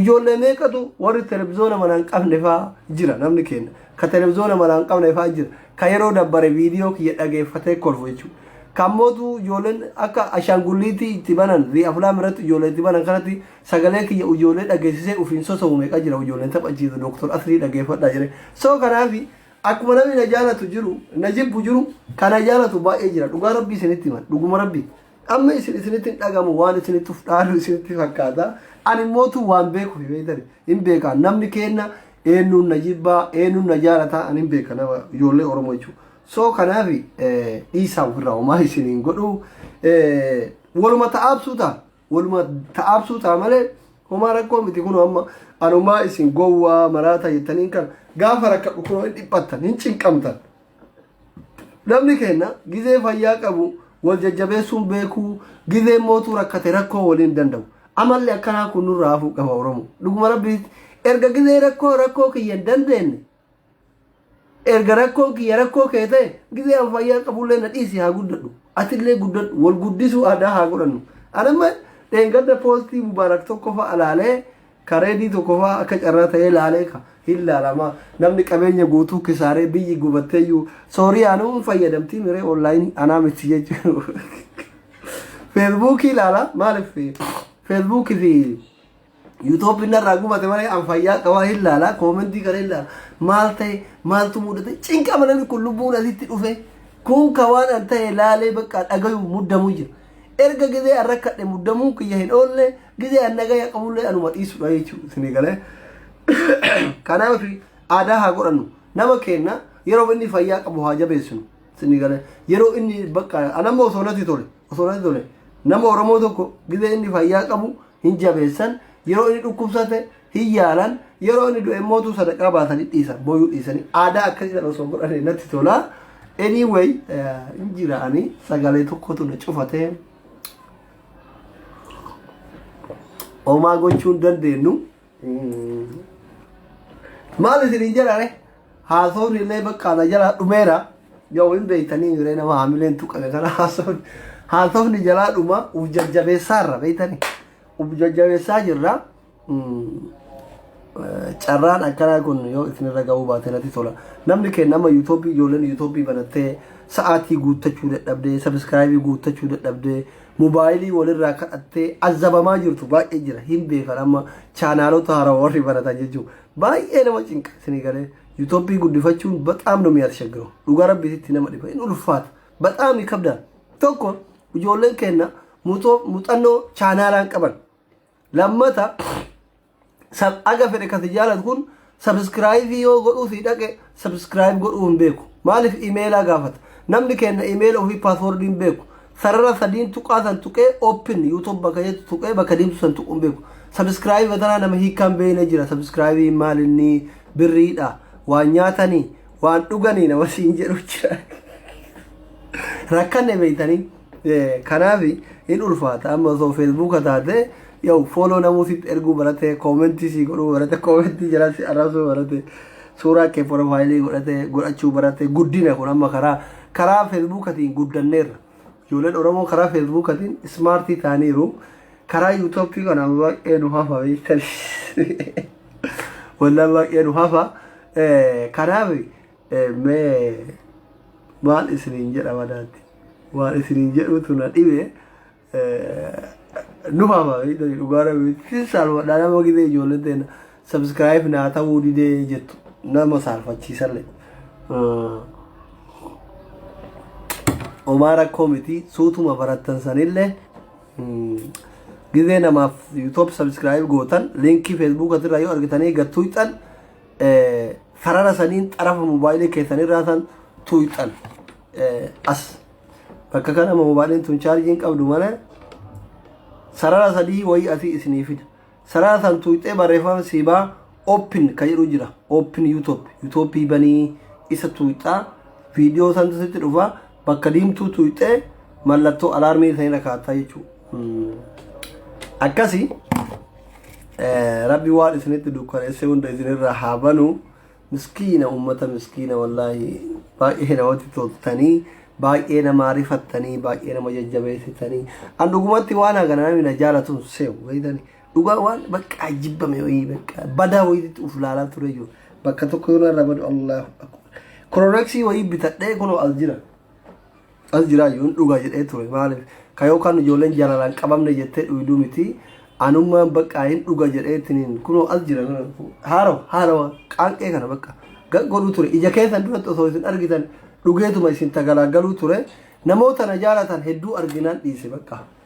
ijoollee meeqatu warri televizyoona manaa hin qabne faa jira namni keenya ka televizyoona manaa hin qabne faa jira ka yeroo dabbare viidiyoo kiyya dhageeffatee kolfu jechuudha kan mootu ijoolleen akka ashaangulliitii itti banan zi aflaam irratti ijoollee itti banan kanatti sagalee kiyya ijoollee dhageessisee ufiin sosomu meeqa jira ijoolleen taphachiisa dooktor asrii dhageeffadhaa jedhee soo kanaafi Akkuma namni na jaalatu jiru na jibbu jiru kan na jaalatu baay'ee jira dhugaa rabbii isinitti himan dhuguma rabbii amma isin isinitti hin dhagamu waan isinitti of dhaalu isinitti fakkaata ani immoo tu waan beeku fi beektan hin beeka namni keenna eenyuun na jibbaa eenyuun na jaalataa ani hin beeka nama ijoollee oromoo jechuudha soo kanaaf dhiisaa ofirraa homaa isin hin godhu waluma ta'aabsuu ta'a Walumaa ta'aabsuu ta'a malee homaa rakkoo miti kun amma anumaa isin gowwaa maraataa jettaniin kan gaafa rakkadhu kun hin dhiphattan hin cinqamtan. Namni keenya gizee fayyaa qabu wal jajjabeessuun beekuu gizee mootuu rakkate rakkoo waliin danda'u. Amalli akkanaa kun nurraa hafuu qaba Oromoo. Dhuguma rabbiitti erga gizee rakkoo rakkoo kiyya hin dandeenye Erga rakkoon kiyya rakkoo kee ta'e gizee an fayyaa qabullee na dhiisi haa guddadhu. Atillee guddadhu wal guddisuu aadaa haa godhannu. Anamma dheengadda poostii mubaarak tokko fa'a laalee kareedii tokko fa'a akka carraa ta'ee laalee ka hin laalama. Namni qabeenya guutuu kisaaree biyyi gubatteeyyuu sooriyaanuu hin fayyadamtii miree onlaayinii anaa miti jechuun. Feesbuukii laala maaliif feesbuukii fi Yuutooppi narraa gubate malee an fayyaa akka waa hin laala koomentii kana hin laala maal ta'e maaltu mudate cinqama namni kun lubbuun asitti dhufe kun ka waan an ta'e laalee bakka dhagayu muddamuu jira erga gizee an rakkadhe muddamuun kiyya hin oolle gizee an nagaya qabullee anuma dhiisudha jechuu isinii galee kanaaf aadaa haa godhannu nama keenna yeroo inni fayyaa qabu haa jabeessinu isinii galee yeroo inni bakka anamma osoo natti tole osoo natti tole nama oromoo tokko gizee inni fayyaa qabu hin jabeessan, yeroo inni dhukkubsate hin yaalan, yeroo inni du'e immoo utuu sadaqaa baasanii dhiisan, booyuu dhiisanii. Aadaa akkasii sana osoo godhanii natti tola. Anyway, eh, hin jira ani sagalee tokkotu na cufate. Homaa gochuu hin dandeenyu. maal isiniin jedhare haasoon illee bakka ana jalaa dhumeera yoo hin beektanii hiree nama haamileen tuqame kana haasoon haasofni jalaa dhuma uf jajjabeessaa irra beektanii uf jajjabeessaa jirra carraan akkanaa kun yoo isinirra ga'uu baate natti tola namni keenya nama yuutuubii ijoolleen yuutuubii banattee sa'aatii guuttachuu dadhabdee sabiskiraayibii guuttachuu dadhabdee mobaayilii walirraa kadhattee azzabamaa jirtu baay'ee jira hin beekan amma chaanaalota haaraa warri baratan jechuun baay'ee nama cinqa isinii galee yuutoppii guddifachuun baxaam nu mi'aat shaggiru dhugaa rabbiitti nama dhiba hin ulfaata baxaam kabda tokko ijoolleen keenna muuxannoo chaanaalaan qaban lammata Sab aga fedhe kasi jaalatu kun subscribe yoo godhuu sii dhaqe subscribe godhuu hin beeku. Maaliif imeelaa gaafata. Namni keenna imeela ofii password hin beeku. Sarara sadiin tuqaa san tuqee open youtube bakka jettu tuqee bakka deemtu san tuquu hin beeku. Subscribe batanaa nama hiikkaa hin beekne jira. Subscribe maal inni birriidha. Waan nyaatanii waan dhuganii nama siin jedhu jira. Rakkanne beektanii. Kanaafi hin ulfaata amma osoo feesbuuka taate yoo fooloo namuu sitti erguu barate koomentii sii godhuu barate koomentii jala si arrabsuu barate suuraa kee porofaayilii godhate godhachuu barate guddina kun amma karaa karaa feesbuukatiin guddanneerra ijoolleen oromoo karaa feesbuukatiin ismaartii taaniiru karaa yuutoopii kana baay'ee nu hafa beektan wallaan baay'ee nu hafa kanaafi Mee maal isiniin jedha madaatti waan isiniin jedhuutu na dhibe nu faama beektanii dhugaa rabeetti saalfadhaa nama gidee ijoolleen ta'e sabskiraayif naa ta'uu didee jettu nama saalfachiisallee. Omaa rakkoo miti suutuma barattan sanillee gidee namaaf yuutoob sabskiraayif gootan liinkii feesbuukatirraa yoo argitanii gattuyxan. sarara saniin xarafa moobaayilii keessan irraa san tuuyxan as bakka kana moobaayiliin tun chaarjiin qabdu malee sarara sadii wayii asii isinii fida sarara san tuuyxee barreeffama siibaa open ka jedhu jira open youtube youtube banii isa tuuyxaa viidiyoo santu sitti dhufa Bakka diimtuu tuqxee mallattoo alaarmii kan irra kaa'attaa jechuudha. Akkasi rabbi waan isinitti dukkaneessee hunda isinirraa haa banu miskiina uummata miskiina wallaahi baay'ee namatti toltanii baay'ee nama arifattanii baay'ee nama jajjabeessitanii an dhugumatti waan hagana namni na jaalatu seewu beektanii Dhugaa waan bakka jibbame wayii bakka badaa wayiitti uf laalaa ture jiru. Bakka tokko yoo narra badu Allahu akbar. Korooreksii wayii bitadhee kunoo as jira. As jira yoon dhugaa jedhee ture maaliif ka yookaan ijoolleen jaalalaan qabamne jettee dhuyduu miti. Anummaan bakka hin dhuga jedhee tiniin kunoo as jira haarawa haarawa qaanqee kana bakka godhuu ture ija keessan duratti osoo isin argitan dhugeetuma isin tagalaagaluu ture namoota na jaalatan hedduu arginaan dhiise bakka.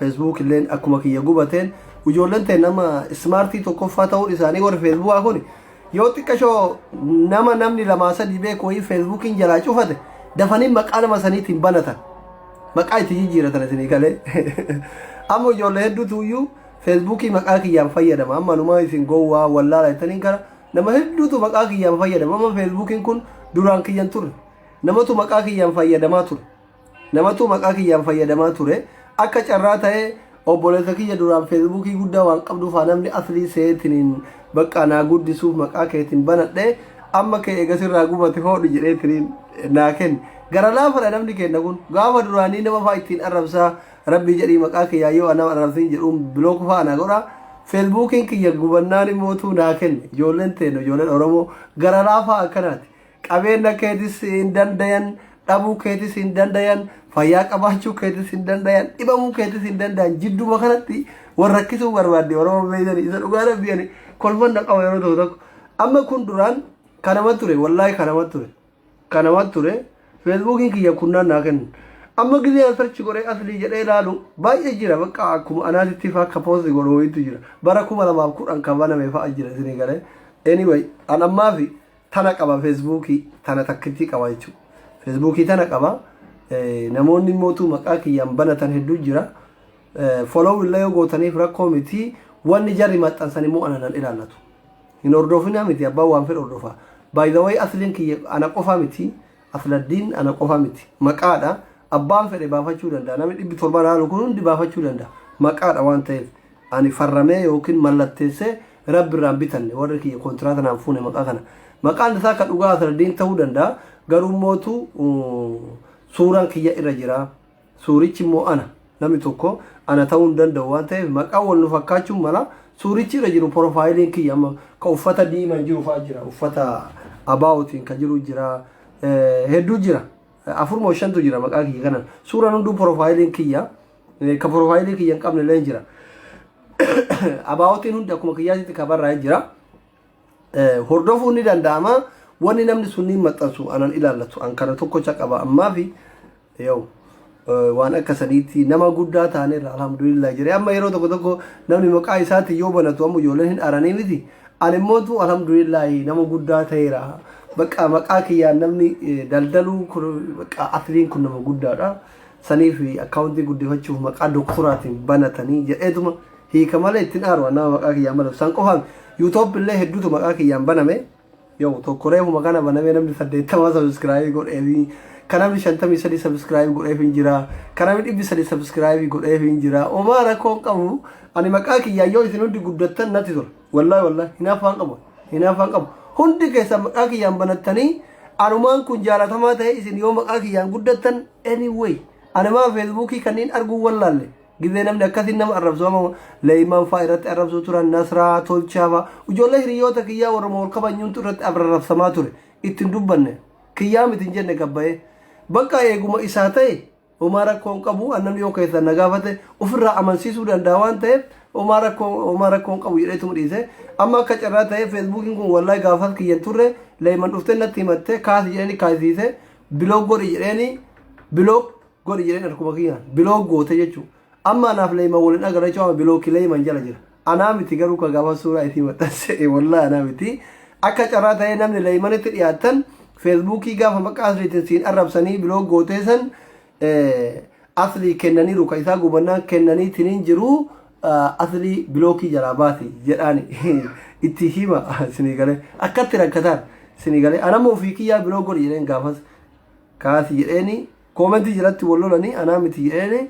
Facebook illeen akkuma kiyya gubateen ijoolleen ta'e nama ismaartii tokkoffaa ta'uun isaanii warri feesbuukaa kun yoo xiqqashoo nama namni lamaa sadii beeku wayii feesbuukiin jalaa cufate dafanii maqaa nama saniitiin banatan maqaa itti jijjiiratan isinii galee amma ijoollee hedduutu iyyuu feesbuukii maqaa kiyyaan fayyadama amma numa isin gowwaa wallaala jettaniin kana nama hedduutu maqaa kiyyaan fayyadama amma feesbuukiin kun duraan kiyyan ture namatu maqaa kiyyaan fayyadamaa ture Namatu maqaa kiyyaan fayyadamaa ture. Akka carraa ta'ee obboleessa kiyya duraan feesbuukii guddaa waan qabduuf haa namni aslii seetiniin baqqaa naa guddisuuf maqaa keetiin banadhe amma kee eega sirraa gubate hoodhu jedheetiniin naa kenne. Gara laafadha namni kenna kun gaafa duraanii nama fa'aa ittiin arrabsaa rabbii jedhii maqaa kiyyaa yoo nama arrabsiin jedhuun bilook fa'aa naa godha. Feesbuukiin kiyya gubannaan immootuu naa kenne. Ijoolleen teenu ijoolleen Oromoo gara laafaa akkanaati. Qabeenna keetis hin dandayan, dhabuu keetis hin dandayan, fayyaa qabaachuu keetis hin dandayan, dhibamuu keetis hin dandayan. Jidduma kanatti wal rakkisuu barbaadde Oromoo beeytani. Isa dhugaa rabbi ani kolfan na qaba yeroo tokko tokko. Amma kun duraan kanama ture, wallaahi kanama ture. Kanama ture. Feesbuukiin kiyya kunnaan naa kennu. Amma gizee an sarchi godhee aslii jedhee ilaalu baay'ee jira bakka akkuma anaatitti faa akka poosti godhu wayiitu jira. Bara kuma lamaaf kudhan kan baname fa'a jira isinii galee. Anyway, an ammaafi tana qaba feesbuukii tana takkittii qaba jechuudha. Feesbuukii tana qaba namoonni immoo maqaa kiyyaan banatan hedduu jira. Follow illee yoo gootaniif rakkoo miti wanni jarri maxxansan immoo ana nan ilaallatu. Hin hordofinaa miti abbaan waan fedhe hordofa. By the way asliin kiyya ana qofaa miti Asladdiin ana qofa miti. Maqaadha. Abbaan fedhe baafachuu danda'a. Namni dhibbi torba laalu kun hundi baafachuu danda'a. Maqaadha waan ta'eef ani farramee yookiin mallatteessee Rabbi irraan bitanne warri kiyya kontiraata naan fuune maqaa kana. Maqaan isaa ka dhugaa Asladdiin ta'uu danda'a. Garuummootu suuraan kiyya irra jira. Suurichi immoo ana. Namni tokko ana ta'uu hin danda'u waan ta'eef maqaan wal nu fakkaachuun mala. Suurichi irra jiru porofaayiliin kiyya amma ka uffata diimaan jiru fa'aa jira. Uffata abaawotiin ka jiru jira. Hedduu jira. Afur moo shantu jira maqaa kiyya kanan. Suuraan hunduu porofaayiliin kiyya. Ka porofaayilii kiyya hin qabne illee jira. Abaawotiin hundi akkuma kiyyaatitti ka barraa'ee jira. hordofuun ni danda'ama wanni namni sunniin maxxansu anan ilaallatu an kana tokkocha qaba ammaa fi yoo waan akka saniitti nama guddaa taaneerra alhamdulillah jire amma yeroo tokko tokko namni maqaa isaatiin yoo banatu amma ijoolleen hin aranii miti an immoo tu alhamdulillah nama guddaa ta'eera bakka maqaa kiyyaan namni daldaluu kun bakka asliin kun nama guddaadha saniif akkaawuntii guddifachuuf maqaa doktoraatiin banatanii jedheetuma Hiika malee ittin aaru an nama maqaa kiyyaan baname san qofa you top illee hedduutu maqaa kiyyaan baname yoo tokko reefuma kana banamee namni saddeettamaa sabiskiraabii godheefi kan namni shantamii sadii sabiskiraabii godheef hin jira kan namni dhibbi sadii sabiskiraabii godheef hin jira omaa rakkoon qabu ani maqaa kiyyaan yoo isin hundi guddattan natti tola wallahi wallahi hinaaffaan qabu hinaaffaan qabu hundi keessan maqaa kiyyaan banattanii anumaan kun jaalatamaa ta'e isin yoo maqaa kiyyaan guddattan anyway ani maa feesbuukii kanniin arguu wallaalle Gizee namni akkasiin nama arrabsu amma leeyman faa irratti arrabsu turan nasraa tolchaa faa ijoollee hiriyoota kiyyaa warra wal kabanyuuntu irratti arrabsamaa ture ittiin dubbanne kiyyaa miti hin jenne gabbayee bakka eeguma isaa ta'e homaa rakkoo hin qabu an namni yoo keessan na gaafate ofirraa amansiisuu danda'a waan ta'eef homaa rakkoo homaa rakkoo hin qabu jedheetuma dhiise amma akka carraa ta'e feesbuukiin kun wallahi gaafas kiyyan turre leeyman dhuftee natti himatte kaasi jedhanii kaasiise biloog godhi jedheenii biloog godhi jedheen harkuma kiyyaan bilook goote jechuu amma anaaf leeyman wal hin agarra jechuu amma bilooki leeyman jala jira anaa miti garuu ka gaafa suuraa itii maxxanse wallaa anaa miti akka carraa ta'ee namni leeymanitti dhiyaattan feesbuukii gaafa maqaa asliitiin siin arrabsanii bilook gootee san aslii kennaniiru ka isaa gubannaan kennanii tiniin jiru aslii bilookii jalaa baasi jedhaani itti hima sinii galee akkatti rakkataan sinii galee anammoo ofii kiyyaa bilook godhi jedheen gaafas kaasi jedheeni Comment jalatti wal lolanii anaa miti jedheeni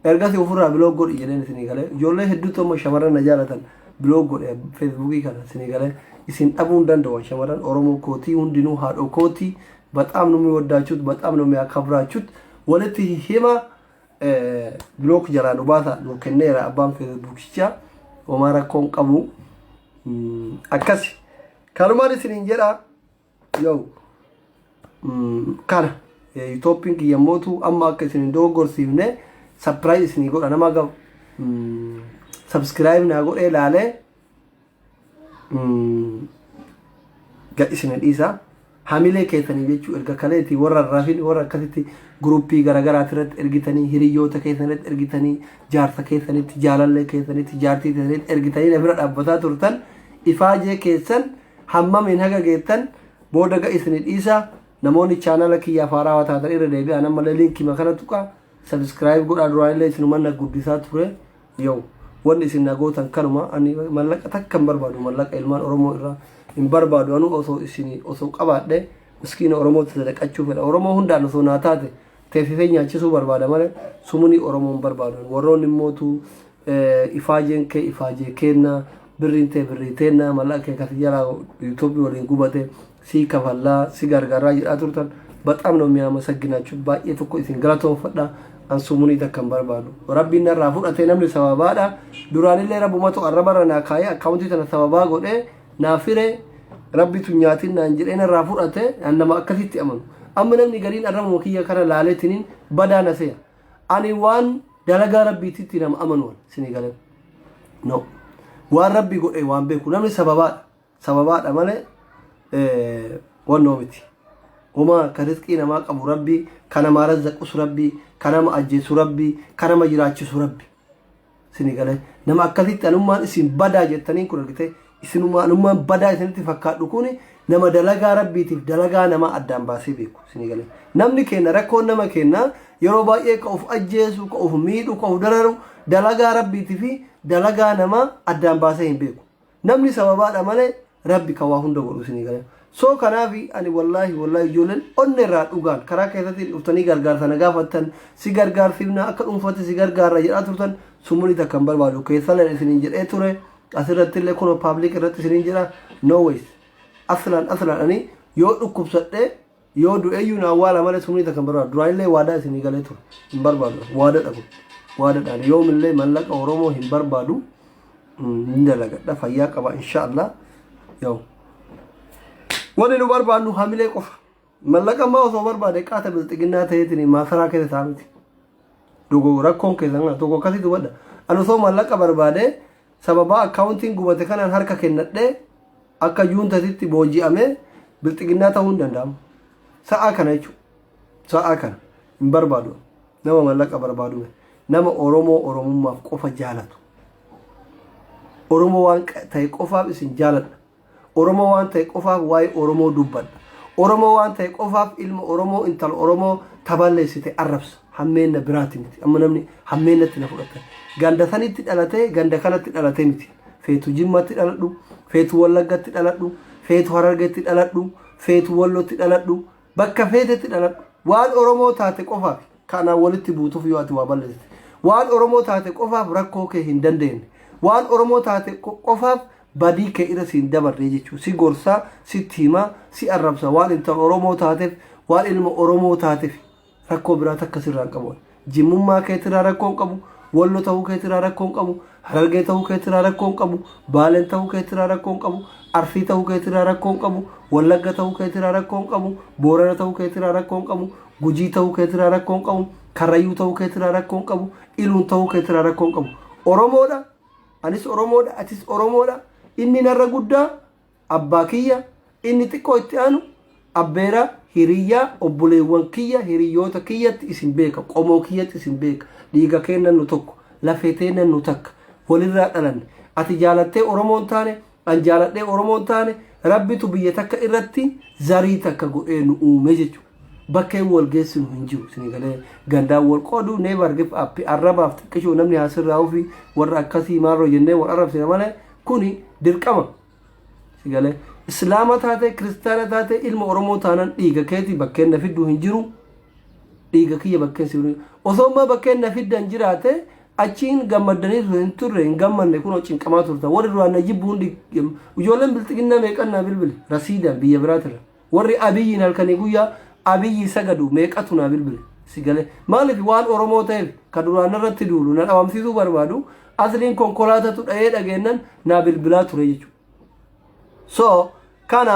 ergasi ofirraa biloog godhi jedheen isinii galee ijoollee hedduutu amma shamarran na jaalatan biloog godhe feesbuukii kana isinii galee isin dhabuu hin danda'u shamarran oromoo kootii hundinuu haadhoo kootii baxaam nu miwaddaachuut baxaam nu miyaakabraachuut walitti hima biloog jalaa nu baasa nu kenneera abbaan feesbuukichaa homaa rakkoon qabu akkasi kanumaan isiniin jedhaa Yoo kana yuutooppiin kiyya mootu amma akka isin hin dogoggorsiifne sapiraayiz isinii godha nama akka sabskiraayib naa godhee laalee gad isin dhiisa hamilee keessanii jechuu erga kaleetii warra rafin warra akkasitti guruppii garagaraati irratti ergitanii hiriyyoota keessan irratti ergitanii jaarsa keessanitti jaalallee keessanitti jaartii keessanitti ergitanii na bira dhaabbataa turtan ifaajee keessan hammamiin haga geettan booda ga isini dhiisa namoonni chaanala kiyyaaf haaraawaa taatan irra deebi'aan ammallee liinkima kana tuqa sabiskiraayib godhaa duraan illee isinuma na guddisaa ture yoo wanni isin na gootan kanuma ani mallaqa takka hin barbaadu mallaqa ilmaan oromoo irraa hin barbaadu anu osoo isin osoo qabaadhe miskiina oromootti sadaqachuu fedha oromoo hundaan osoo naa taate Teessisee nyaachisuu barbaada malee sumuni Oromoo hin barbaadu. Warroonni immootu ifaajeen kee ifaajee keenna, birriin tee birrii teenna, mallaqa kee kasi jalaa YouTube waliin gubate sii kafallaa, si gargarraa jedhaa turtan baxaam nama miyaamasagginaachuu baay'ee tokko isin galatoonfadha. An sumunii takka hin barbaadu. Rabbiin narraa fudhatee namni sababaadha. Duraanillee rabbumatu arrabarra naa kaayee akkaawuntii tana sababaa godhee naaf hire rabbitu hin nyaatin naan jedhee narraa fudhate an nama akkasitti amanu amma namni gariin arrabuma kiyya kana laaletiniin badaa na seya ani waan dalagaa rabbiititti nama amanu an sini galan no waan rabbi godhe waan beeku namni sababaadha sababaadha malee eh, wannoo miti Uma kan rizqii namaa qabu rabbi, kan namaa razzaqus rabbi, kan nama ajjeesu rabbi, kan nama jiraachisu rabbi. Sini galee nama akkasitti anummaan isin badaa jettaniin kun argitee isinuma anummaan badaa isinitti fakkaadhu kun nama dalagaa rabbiitiif dalagaa namaa addaan baasee beeku sini galee namni keenya rakkoon nama keenya yeroo baay'ee ka of ajjeesu ka of miidhu ka of dararu dalagaa rabbiitii fi dalagaa namaa addaan baasee hin beeku. namni sababaadha malee rabbi ka waa hunda godhu isinii galee soo kanaafi ani wallaahi wallaahi ijoolleen onne irraa dhugaan karaa keessatti dhuftanii gargaarsa na gaafattan si gargaarsiifna akka dhuunfatti si gargaarra jedhaa turtan sumuni takka hin barbaadu keessallee isiniin jedhee ture asirratti illee kunoo paablik irratti isiniin jedha no ways aslaan aslaan ani yoo dhukkubsadhee Yoo du'eyyuu na awwaala malee summii takka hin barbaadu. Duraanillee waadaa isinii galee ture. Hin barbaadu an. Waadadha kun. Waadadha ani yoomillee mallaqa Oromoo hin barbaadu. Hin dalagadha fayyaa qaba insha Allah. Yoo. Wanni nu barbaannu hamilee qofa. Mallaqa ammaa osoo barbaade qaata bilxiginnaa ta'eetiin maakaraa keessa taa'aa miti. Dogo rakkoon keessan kana tokko akkasii dubadha. Ani osoo maallaqa barbaade sababaa akkaawuntiin gubate kanaan harka kennadhee akka juuntatitti booji'amee bilxiginnaa ta'uu hin danda'amu. Sa'aa kana jechuudha. Sa'aa kana hin barbaadu. Nama maallaqa barbaadu miti. Nama Oromoo Oromummaaf qofa jaalatu. Oromoo waan ta'e qofaaf isin jaaladha. Oromoo waan ta'e qofaaf waa'ee Oromoo dubbadha. Oromoo waan ta'e qofaaf ilma Oromoo, intala Oromoo ta balleessite arrabsa. Hammeenna biraati miti. Amma namni hammeennatti na fudhatan. Ganda sanitti dhalatee ganda kanatti dhalatee miti. Feetu Jimmatti dhaladhu, feetu Wallaggatti dhaladhu, feetu Harargetti dhaladhu, feetu Wallotti dhaladhu, bakka feetetti dhaladhu. Waan Oromoo taate qofaaf ka anaan walitti buutuuf yoo ati waa balleessite. Waan Oromoo taate qofaaf rakkoo kee hin dandeenye. Waan Oromoo taate qofaaf badii kee irra siin dabarree jechuun si gorsaa sitti himaa si arrabsa waan intala oromoo taateef waan ilma oromoo taateef rakkoo biraa takka sirraan qabu jimmummaa keetirraa rakkoo hin qabu wallo ta'uu keetirraa rakkoo hin qabu harargee ta'uu keetirraa rakkoo hin qabu baaleen ta'uu keetirraa rakkoo hin qabu arsii ta'uu keetirraa rakkoo hin qabu wallagga ta'uu keetirraa rakkoo hin qabu boorana ta'uu keetirraa rakkoo hin qabu gujii ta'uu keetirraa rakkoo hin qabu karrayyuu ta'uu keetirraa rakkoo hin qabu iluun ta'uu keetirraa rakkoo hin qabu oromoodha Anis Oromoodha, atis Oromoodha. Inni narra guddaa abbaa kiyya, inni xiqqoo itti aanu abbeera hiriyyaa obboleewwan kiyya hiriyyoota kiyyatti isin beeka, qomoo kiyyatti isin beeka. Dhiiga keennan nu tokko, lafee teennan nu takka. Walirraa dhalanne. Ati jaalattee Oromoon taane, An jaaladhee Oromoo hin taane Rabbitu biyya takka irratti zarii takka godhee nu uume jechuudha. Bakkeen wal geessinu hin jiru. Isin galee gandaan wal qooduu never give up arrabaaf xiqqishoo namni haa sirraa'uu fi warra akkasii maaloo jennee wal arrabsina malee kuni dirqama. Isin galee Islaama taatee kiristaana taatee ilma Oromoo taanan dhiiga keetii bakkeen na fidduu hin jiru. Dhiiga kiyya bakkeen si osoo ammaa bakkeen na fiddan jiraate Achi hin gammaddanii turtan hin turre hin gammanne kunoo cinqamaa turtan warri duraan na jibbu hundi ijoolleen bilxiginnaa meeqan naa bilbile rasiidaan biyya biraatirra warri abiyyiin halkanii guyyaa abiyyi sagadu meeqatu naa bilbile si galee maaliif waan oromoo ta'eef ka duraan irratti duulu na dhabamsiisuu barbaadu asliin konkolaatatu dha'ee dhageennan naa bilbilaa ture jechuudha so kana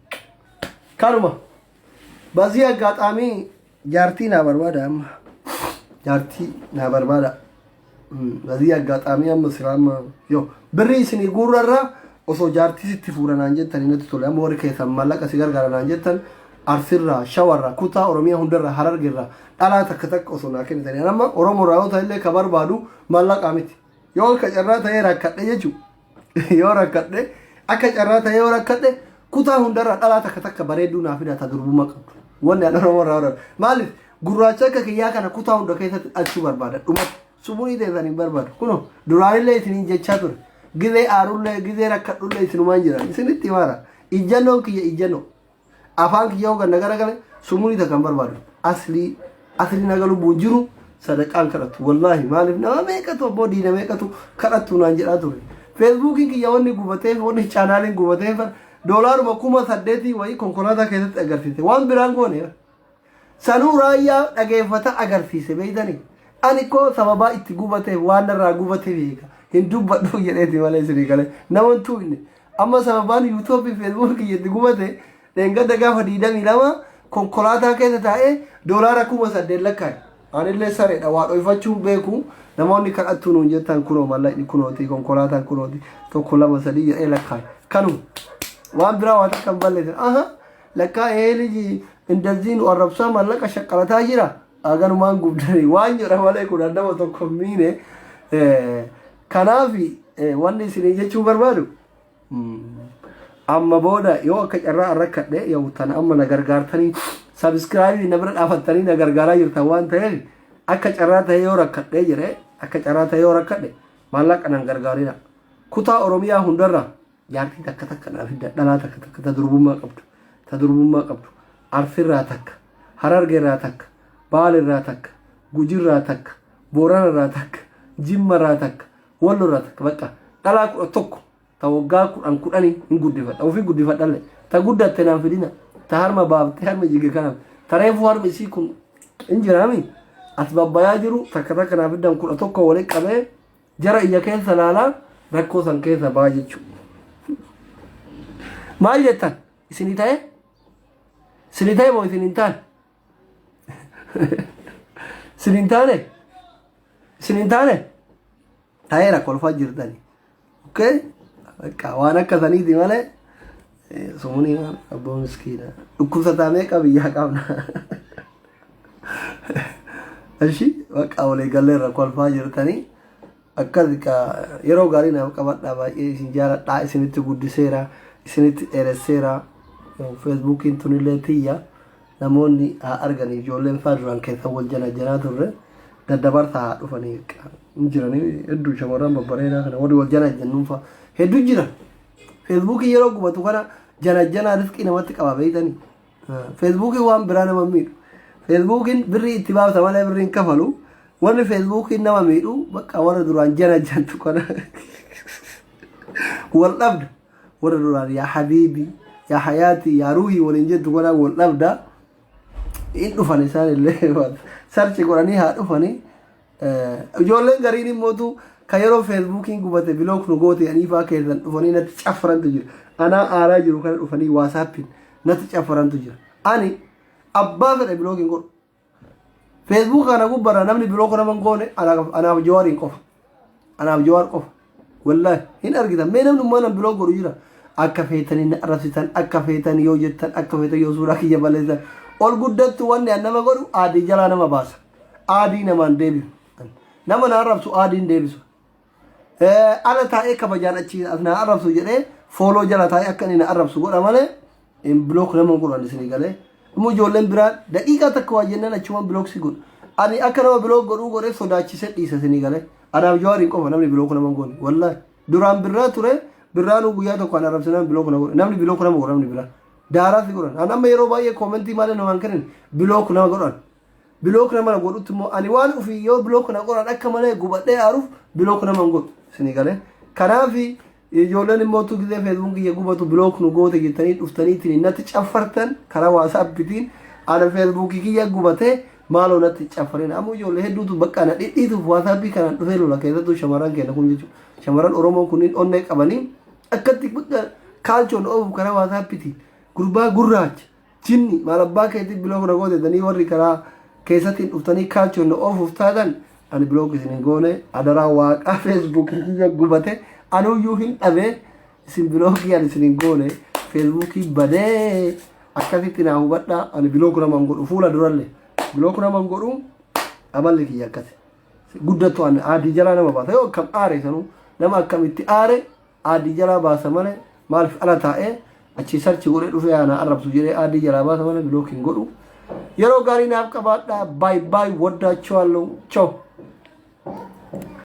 Kanuma. Bazii aggaataamii jaartii naa barbaada amma. Jaartii naa barbaada. Bazii aggaataamii amma silaa amma yoo birrii isinii guurrarraa osoo jaartii sitti fuudhanaan jettan natti tole amma warri keessan maallaqa si gargaaranaan jettan arsirraa shawarraa kutaa oromiyaa hundarraa harargerraa dhalaa takka takka osoo naa kennitanii amma oromoorraa yoo ta'ellee ka barbaadu maallaqaa miti yoo akka carraa ta'ee rakkadhe jechuudha. yoo rakkadhe akka carraa ta'ee yoo rakkadhe kutaa hundarraa dhalaa takka takka bareedduu naaf hidhata durbummaa qabdu. Wanni an Oromoo irraa horan. Maaliif gurraacha akka kiyyaa kana kutaa hunda keessatti dhalchuu barbaada. Dhumatti sumurii teessan hin barbaadu. Kunoo duraanillee isiniin jechaa ture. Gizee aarullee gizee rakkadhullee isinumaan jiran. Isinitti himaara. Ijjannoon kiyya ijjannoo. afaan kiyya hogan na garagale sumuni takka hin barbaadu aslii akhirin haga lubbuun jiru sadaqaan kadhatu wallaahi maaliif nama meeqatu abboo diina meeqatu kadhatu naan jedhaa ture feesbuukiin kiyya wanni gubateef wanni chaanaaliin gubateef doolaaruma kuma saddeetii wayii konkolaataa keessatti agarsiise waan biraan goone Sanuu raayyaa dhageeffataa agarsiise beektani ani koo sababaa itti gubateef waan narraa gubateef eega hin dubbadhu jedheeti malee isinii galee naman tuuyne amma sababaan yuutoobii feesbuukii kiyya itti gubate dheengadda gaafa diidamii lama konkolaataa keessa taa'ee doolaara kuma saddeet lakkaa'e anillee sareedha waa dhoyfachuun beeku namoonni kadhattuu nuun jettan kunoo mallaqni kunooti konkolaataan kunooti tokko lama sadii jedhee lakkaa'e kanuma waan biraa waa takka hin balleessan aha Lakkaa ee liji indazii nu arrabsaa mallaqa shaqqalataa jira aganumaan gubdanii waan jedha malee kun addama tokko hin miine kanaafi wanni isinii jechuu barbaadu amma booda yoo akka carraa arrakkadhe yoo tan amma na gargaartanii sabiskiraabii na bira dhaafattanii na gargaaraa jirtan waan ta'eef akka carraa ta'e yoo rakkadhe jedhe akka carraa ta'e yoo rakkadhe maallaqa nan gargaarina kutaa oromiyaa hundarraa Jaartii takka takka naa fidda dhalaa takka takka ta durbummaa qabdu ta durbummaa qabdu Arsiirraa takka Harargeerraa takka Baalerraa takka Gujirraa takka Booranarraa takka Jimmarraa takka Wallorraa takka baqqa dhalaa kudha tokko ta waggaa kudhan kudhanii hin guddifadha ofii guddifadhalle ta guddatte naan fidina ta harma baaftee harmi jige kanaaf ta reefuu harmi isii kun hin jiraami as babbayaa jiru takka takka naa fiddan kudha tokko walitti qabee Jara ija keessa laalaa rakkoo san keessa baa jechuu. Maal jettan? Isini ta'e? Isini ta'e moo isin hin taane? Isin hin taane? Isin hin taane? Ta'eera kolfaa jirtani. Okay? Bakka waan akka saniiti malee Sumuni maal abboo miskiina. Dhukkubsataa meeqa biyyaa qabna. Ashi bakka walii gallee irra kolfaa jirtanii akkas ka yeroo gaarii naaf qabadhaa baay'ee isin jaaladhaa isinitti guddiseera isinitti dheeresseera feesbuukiin tunillee tiyya namoonni haa argan ijoolleen faa duraan keessa wal janajjanaa turre daddabarsaa haa dhufanii hin jiranii hedduu shamarran babbareedaa kana warri wal janajjannuun faa hedduu jiran. Feesbuukiin yeroo gubatu kana janajjanaa risqii namatti qaba beektanii. Feesbuukiin waan biraa nama miidhu. Feesbuukiin birrii itti baafta malee birrii hin kafalu. Wanni feesbuukiin nama miidhu bakka warra duraan janajjantu kana wal dhabda. Warra duraan yaa habiibii yaa hayaatii yaa ruuhii waliin jettu kana wal dhabda. Hin dhufan isaan illee sarchi godhanii haa dhufanii. Ijoolleen gariin immootu kan yeroo feesbuukiin gubate bilook nu goote jedhanii faa keessan dhufanii natti caffarantu jira. Anaa aaraa jiru kana dhufanii waasaappiin natti caffarantu jira. Ani abbaa fedhe bilook hin godhu. Feesbuuk kana gubbarra namni bilook nama hin goone anaaf jawaariin qofa. Anaaf jawaar qofa. Wallahi hin argitan mee namni ummaa nan biloo godhu jira akka feetanii na arrabsitan akka feetan yoo jettan akka feetan yoo suuraa kiyya balleessan ol guddattu wanni an nama godhu aadii jalaa nama baasa aadii namaan deebisu nama na arrabsu aadiin deebisu ala taa'ee kabajaan achi as na arrabsu jedhee fooloo jala taa'ee akka inni na arrabsu godha malee in block nama hin godhu ani isinii galee immoo ijoolleen biraa daqiiqaa takka waa jennaan achumaan block si godhu ani akka nama block godhuu godhee sodaachisee dhiisa isinii galee anaaf jawaariin qofa namni block nama hin goone wallaahi duraan birraa ture birraanuu guyyaa tokko an arrabsinaan block na godhe namni block nama godhu namni biraa daaraa si godhan an amma yeroo baay'ee koomentii malee nu waan kennin block nama godhan block nama na godhutti immoo ani waan ofii yoo block na godhan akka malee gubadhee aaruuf block nama hin godhu isinii galee kanaafi Ijoolleen immoo utuu gizee feesbuun kiyya gubatu bilook nu goote jettanii dhuftaniitiin natti caffartan karaa waasaappitiin ana feesbuukii kiyya gubatee maaloo natti caffarin ammoo ijoollee hedduutu bakka na dhidhiituuf waasaappii kanaan dhufee lola keessattuu shamarran keenya kun jechuudha. Shamarran Oromoo kunniin onnee qabanii akkatti bakka kaalchoon oofuuf karaa waasaappitiin gurbaa gurraacha Jinni maal abbaa keetii bilook na goote jettanii warri karaa keessattiin dhuftanii kaalchoon na oofuuf taatan ani bilook isin hin goone adaraa waaqaa feesbuukii kiyya gubate anuyyuu hin dhabe isin bilookii ani isin hin goone feesbuukii badee akkasitti naa hubadhaa ani bilook nama hin godhu fuula duralle bilook nama hin godhu amalli kiyya akkasi guddattu ani aadii jalaa nama baasa yoo akkam aare sanuu nama akkamitti aare Aadii jalaa baasa malee maaliif ala taa'ee achii sarchi godhee dhufee haa na arrabsu jedhee aadii jalaa baasa malee bilook hin godhu. Yeroo gaarii naaf qabaadhaa baay baay waddaachuu halluu choo.